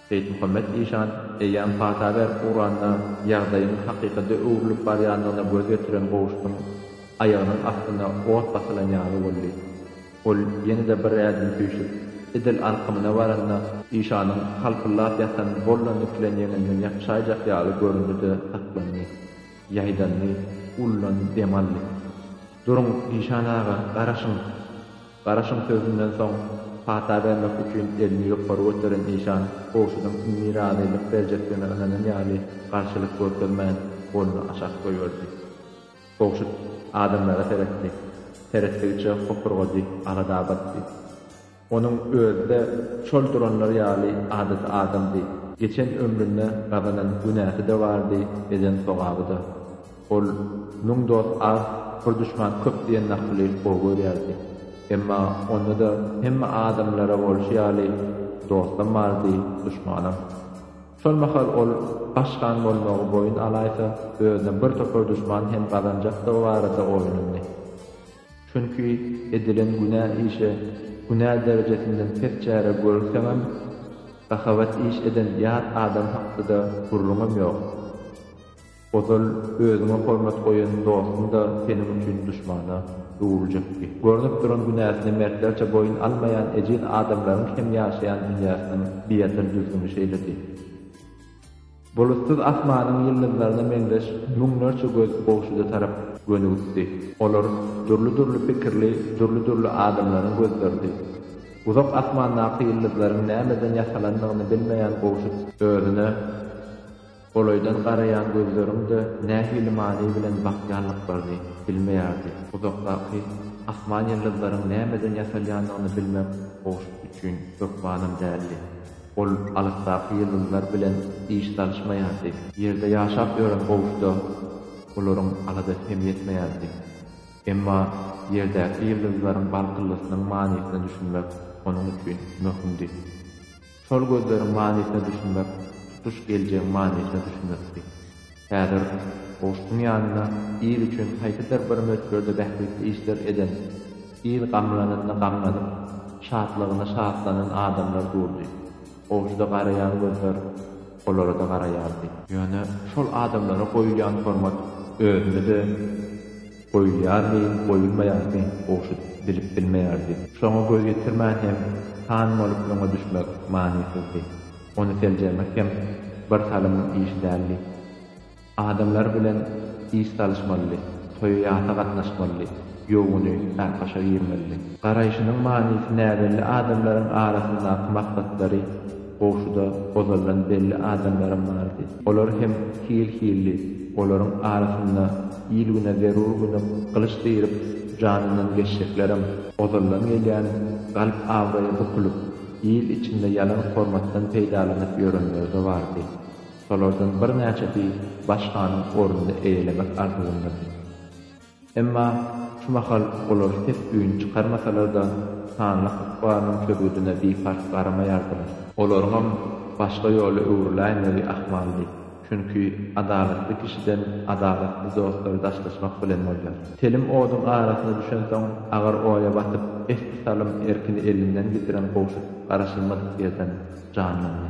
Seýitmuhammet işan, Eýýäm pata berip ugranda, ýagdaýyň hakykada öwrülip barýandygyna göz ýetiren Gowşutyň aýagynyň astyna ot basylan ýaly boldy. Ol ýene-de bir ädim süýşüp, edil alkymyna baranda, işanyň halpyllap ýatan bolla nikilen ýeňinden ýapyşaýjak ýaly göründi-de saklandy. Ýaýdandy, ullaň dem aldy. Duruň, işan aga, garaşyň! Garaşyň sözünden soň pata bermek üçin elini ýokary göteren işan gowşudyň indi razylyk berjekdigine ynanan ýaly garşylyk görkezmän, goluny aşak goýberdi. Gowşut adamlara seretdi. Seretdigiçe hopurgady, alada batdy. Onuň özi-de şol duranlar ýaly adaty adamdy. Geçen ömründe gazanan günäsi-de bardy, eden sogaby-da. Ol Müň dost az, bir duşman köp diýen nakyly gowy görýärdi. Emma onda-da hemme adamlara bolşy ýaly, dostam bardy, duşmanam. Şol mahal ol baş han bolmagy boýun alaýsa, özüne bir topar duşman hem gazanjakdygy barada oýlandy. Çünki edilen günä işe günä derejesinden pes çäre görseňem, sahawat iş eden ýat adam hakda-da gürrüňem ýok. Ozal özüňe hormat goýan dostuň-da seniň üçin duşmana öwrüljekdi. Görnüp duran günäsine mertlerçe boýun almaýan ejiz adamlaryň hem ýaşaýan dünýäsiniň biasyr düzgüni şeýledi. Bulutsyz asmanyň ýyldyzlaryna meňzeş müňlerçe göz goşuda tarap gönügitdi. Olar dürli-dürli pikirli, dürli-dürli adamlaryň gözleridi. Uzak asmandaky ýyldyzlaryň nämeden ýasalandygyny bilmeýän goşut özüne. Golaýdan garaýan gözleriň-de nähili many bilen bakýanlyklaryny bilmeýärdi. Uzakdaky asman ýyldyzlaryň nämeden ýasalýandygyny bilmek Gowşut üçin hökmanam däldi. Ol alysdaky ýyldyzlar bilen iş salyşmaýardy. Ýerde ýaşap ýören Gowşuda olaryň aladasy hem ýetmeýärdi. Emma ýerdäki ýyldyzlaryň barkyllysynyň manysyna düşünmek onuň üçin möhümdi. Şol gözleriň manysyna düşünmek tutuş geljegiň manysyna düşünmekdi. Häzir goşuň ýanynda il üçin haýsydyr bir möçberde bähbitli işler eden, il gamlananda gamlanyp, şatlygynda şatlanan adamlar durdy. Goşuda garaýan gözler olara-da garaýardy. Ýöne şol adamlara goýulýan hormat özüne-de. Goýulýarmy, goýulmaýarmy, Gowşut bilip bilmeýärdi. Şoňa göz ýetirmän hem han bolup öňe düşmek manysyzdy. Ony seljermek hem bir salymyň işi däldi. Adamlar bilen iş salyşmalydy, toýa-ýasa gatnaşmalydy, ýowuny Ärkaşa girmelidi. Garaýşynyň manysy näbelli adamlaryň arasyndaky maslatlary Goşuda ozaldan belli adamlaram bardy. Olar hem hil-hildi. Olaryň arasynda il-güne zerur gönük gylyç diýrip janyndan geçjeklerem, ozaldan gelýän galp abraýa bukulyp, il içinde ýalan hormatdan peýdalanyp ýörenleri-de bardy. Şolardan birnäçesi baş hanyň ornuny eýelemek arzuwyndady. Emma şu mahal olar ses-üýn çykarmasalar-da, sanly ykbalynyň çözgüdine biparh garamaýardylar. Olaryňam başga ýola öwrüläýmegi ahmaldy, çünki adalatly kişiden adalatly dostlary daşlaşmak bilen bolýar. Telim oduň arasyna düşensoň, agyr oýa batyp, esli salym erkini elinden gitiren Gowşut garaşylmadyk ýerden janlandy.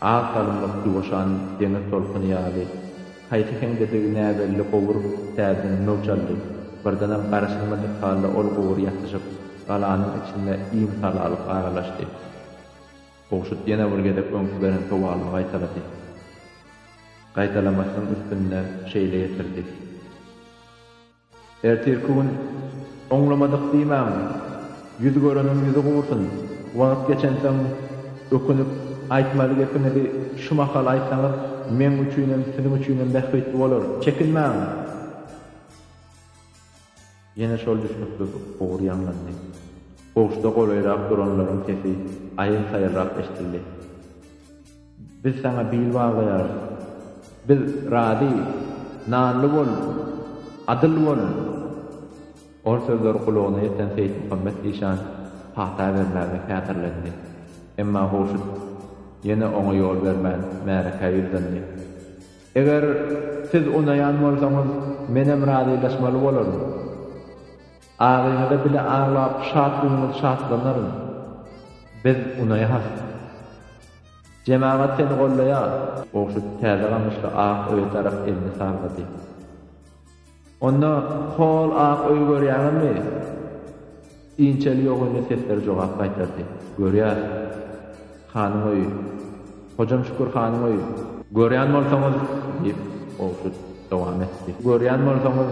Ak salymlyk ýuwaşan deňiz tolkuny ýaly, haýsy heňdedigi näbelli gowur täzeden möwç aldy. Birdenem garaşylmadyk halda ol gowur ýatyşyp, galanyň içinde iň salalyk aralaşdy. Gowşut ýene bir gezek öňki beren sowalyny gaýtalady. Gaýtalamasynyň üstünde şeýle ýetirdi. Ertirki gün oňlamadyk diýmäň, ýüz göreniň ýüzi gursun, wagt geçensoň ökünip, aýtmaly gepiňizi şu mahal aýtsaňyz, meň üçinem, siziň üçinem bähbitli bolar. Çekinmäň! Ýene şol düşnüksiz ugur ýaňlandy. Kowşda golaýrak duranlaryň sesi aýyl-saýylrak eşidildi. Biz saňa bil baglaýarys. Biz razy. Nanly bol. Adyl bol. Ol sözler gulagyna ýeten Seýitmuhammet işan pata bermäge häzirlendi. Emma Gowşut ýene oňa ýol bermän, märekä ýüzlendi. Eger siz unaýan bolsaňyz, menem razylaşmaly bolaryn. Agyňyza bile aglap şatlygyňyz şatlanaryn. Biz unaýas. Jemagat seni gollaýar. Gowşut täze gamyşly ak öýe tarap elini sallady. Onda hol ak öýi görýäňizmi? Inçeli ýogynly sesler jogap gaýtardy. Görýäs. Hanyň öýi. Hojam Şükür hanyň öýi. Görýän bolsaňyz, diýip, Gowşut dowam etdi. Görýän bolsaňyz,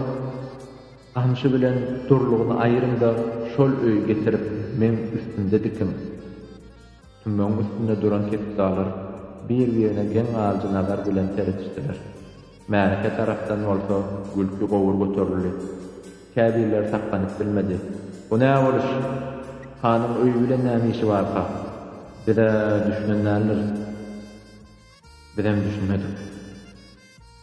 Gamşy bilen Durlugyny aýyryň-da, şol öýe getirip, meň üstümde dikiň. Tümmegiň üstünde duran kepzalar bir-birine geň alyjy nazar bilen seredişdiler. Märeke tarapdan bolsa gülki gowur göterildi. Käbirleri saklanyp bilmedi. Bu nä boluş? Hanyň öýi bilen näme işi barka? Biz-ä düşünen däldiris. Bizem düşünmedik.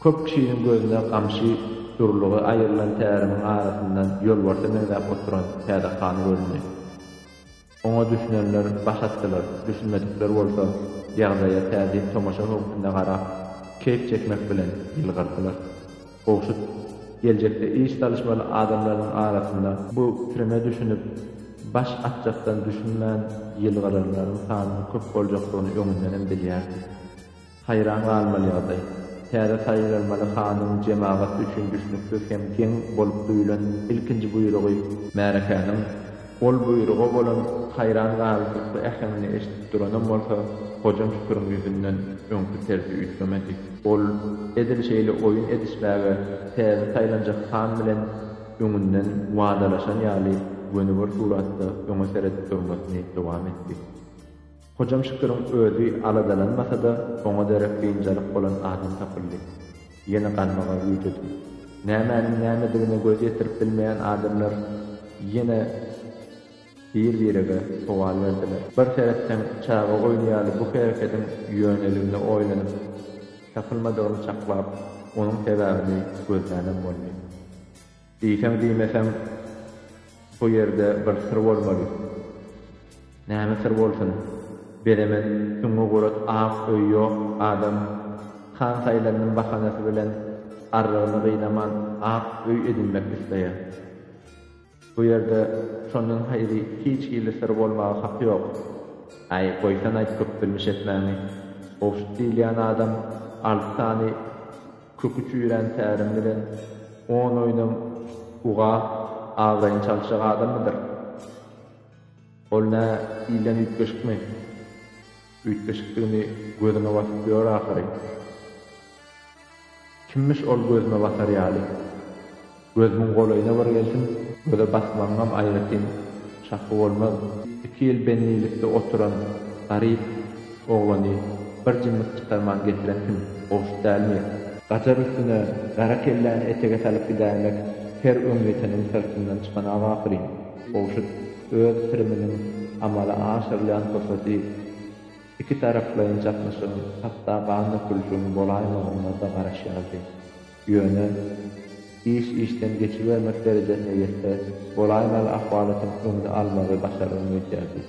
Köp kişiniň gözüne gamşy dürlügi aýrylan tärimiň arasyndan ýolbarsa meňzäp oturan täze han göründi. Oňa düşünenler baş atdylar, düşünmedikler bolsa ýagdaýa täzin tomaşa höwpünde garap, keýp çekmek bilen ýylgyrdylar. Gowşut, geljekde iş salyşmaly adamlarynyň arasynda bu trime düşünip, baş atjakdan düşünmän ýylgyranlaryň sanynyň köp boljakdygyny öňündenem bilýärdi. Haýran galmaly ýagdaý, täze saýlanmaly hanyň jemagat üçin düşnüksiz hem geň bolup duýlan ilkinji buýrugy, märekäniň Ol buýruga bolan haýran galyjylykly äheňini eşidip duranam bolsa, Hojam Şüküriň ýüzünden öňki tersi üýtgemedi. Ol edil şeýle oýun edişmäge täze saýlanjak han bilen öňünden wadalaşan ýaly göni bir suratda öňe seredip durmasyny dowam etdi. Hojam Şüküriň özi aladalanmasa-da, oňa derek biynjalyk bolan adam tapyldy. Ýene galmagal güýjedim. Nämäniň nämedigine göz ýetirip bilmeýän adamlar ýene bir-birege sowal berdiler. Bir seretseň, çaga oýny ýaly bu herekediň ýöneligine oýlanyp, tapylmadygyny çaklap, onuň sebäbini gözlänem boldy. Diýseň-diýmeseň, şo ýerde bir syr bolmaly. Näme syr bolsun? Bezemen süňňi gurat ak öýi ýok adam Han saýlanyň bahanasy bilen arrygyny gynaman ak öý edinmek isleýär. Bu ýerde şondan haýry hiç hili syr bolmaga haky ýok. Äý, goýsan aýt köp bilmiş etmäňi. Gowşut diýilýän adam alty sany Köki çüýrän tärim bilen on oýnam uga abraýyny çalyşjak adammydyr? Ol nä ilden üýtgeşikmi? Üýtgeşikdigini gözüňe basyp ýör ahyry. Kimmiş ol gözüme basar ýaly? Gözümiň golaýyna bir gelsin, göze basmagyňam aýratyn şahwy bolmaz. Iki ýyl bendilikde oturan garyp oglany bir jimlik çykarman getiren kim? Gowşut dälmi? Gajar üstüne gara kelläni etege salyp gidäýmek her öňýeteniň syrtyndan çykanok ahyryn. Gowşut öz piriminiň amala aşyrylýan pursaty iki taraplaýyn çaknyşygyň, hatda gan dökülişigiň bolaýmagyna-da garaşýardy. Ýöne, iş işden geçibermek derejesine ýetse bolaýmaly ahwalatyň öňüni almagy başargyn geçýärdi.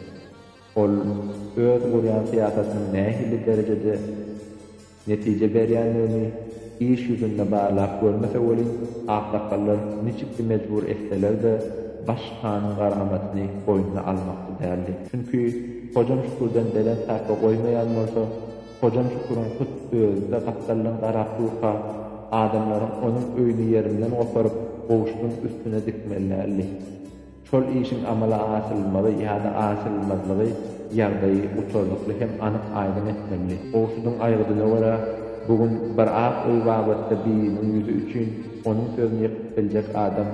Ol öz gurýan syýasatynyň nähili derejede netije berýändigini iş ýüzünde barlap görmese welin, aksakgallar niçiksi mejbur etseler-de, baş hanyň garamatyny boýnuna almakçy däldi. Çünki, hojam Şükürden belent sarpa goýmaýan bolsa, Hojam Şüküriň hut özi-de gapdaldan garap durka, adamlaryň onuň öýüni ýerinden goparyp, gowşudyň üstüne dikmeli däldi. Şol işiň amala aşyrylmagy ýa-da aşyrylmazlygy ýagdaýy gutarnykly hem anyk-aýdyň etmelidi. Gowşudyň aýgydyna görä, bu gün bir ak öý babatda biriniň ýüzi üçin onuň sözüni ýykyp biljek adam,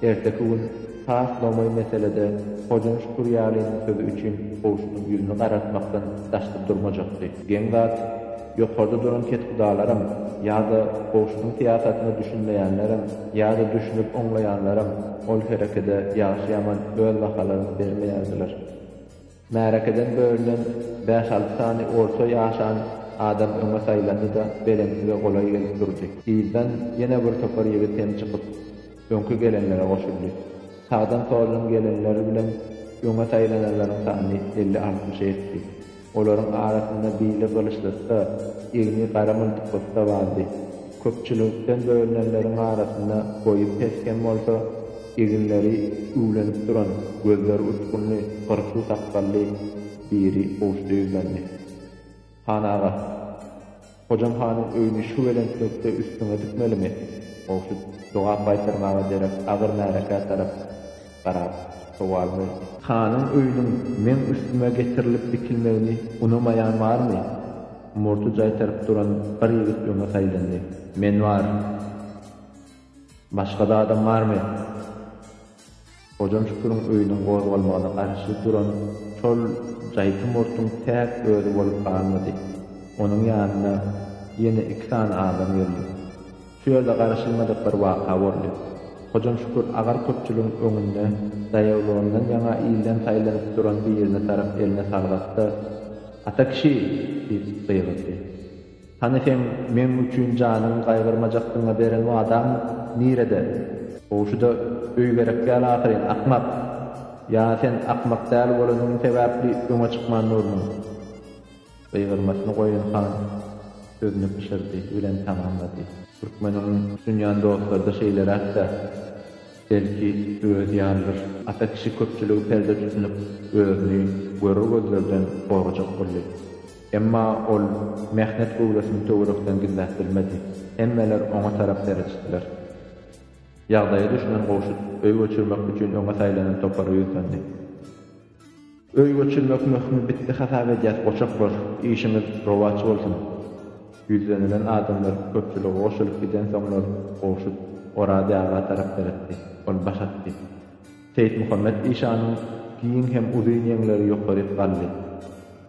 Erteki gün has lomaý meselede Hojaň Şükürýalynyň sözi üçin goşunyň ýüzüni garartmakdan daşda durmajakdy. Geň zat, ýokarda duran kethudalarym ýa-da goşunyň syýasatyna düşünmeýänlerem, ýa-da düşünip oňlaýanlaram ol herekede ýagşy-ýaman öz bahalaryny bermeýärdiler. Märekeden bölünen bäş-alty sany orta ýaşan adam öňe saýlandy-da, belentlige golaý gelip durdy. Yzdan ýene bir topar ýigit hem çykyp, öňki gelenlere goşuldy. Sagdan-soldan gelenler bilen öňe saýlananlaryň sany elli-altmyşy ýetdi. Olaryň arasynda bili gylyçlysy-da, egni gara myltyklysyda bardy. Köpçülikden bölünenleriň arasynda boýy pes hem bolsa, eginleri üwlenip duran, gözleri uçgunly, gyrpyl sakgally biri Gowşuda ýüzlendi. Han aga, Hojam hanyň öýüni şu belentlikde üstüňe dikmelimi? Gowşut jogap gaýtarmaga derek agyr märekä tarap garap, sowal berdi. Hanyň öýüniň meň üstüme getirilip dikilmegini unamaýan barmy? Murty jaýtaryp duran bir ýigit öňe saýlandy. Men bar. Başga-da adam barmy? Hojam Şüküriň öýüniň gozgalmagyna garşy duran şol jaýty murtuň täk özi bolup galmady. Onuň ýanyna ýene iki sany adam geldi. Söze garaşylmadyk bir waka boldy. Hojam Şükür agar köpçüligiň öňünde daýawlygyndan ýaňa ilden saýlanyp duran birine tarap elini salgap-da, Ata kişi! diýip gygyrdy. Hany seň meň üçin janyňy gaýgyrmajakdygyňa beren wadaň nirede? Gowy şu-da öý gerek däl ahyryn, akmak! Ýa sen akmak däl bolanyň sebäpli öňe çykman durmuň? Gygyrmasyny goýan han sözüni pyşyrdy bilen tamamlady. Türkmen ony tutunýan dostlarda şeýleräk-dä, belki, özi ýalydyr. Ata kişi köpçüligi perde tutunyp, özüni görer gözlerden gorajak boldy. Emma ol mähnet göwresini töwerekden gizläp bilmedi. Hemmeler oňa tarap seredişdiler. Ýagdaýa düşünen Gowşut öý göçürmek üçin öňe saýlanan topara ýüzlendi. Öý göçürmek möhümi bitdi hasap edýäs goçaklar, işiňiz rowaç bolsun! Ýüzlenilen adamlar köpçülige goşulyp gidensoňlar Gowşut Oraz aga tarap seretdi. Ol baş atdy. Seýitmuhammet işanyň giň hem uzyn ýeňleri ýokaryk galdy.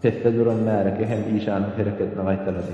Pesde duran märeke hem işanyň hereketini gaýtalady.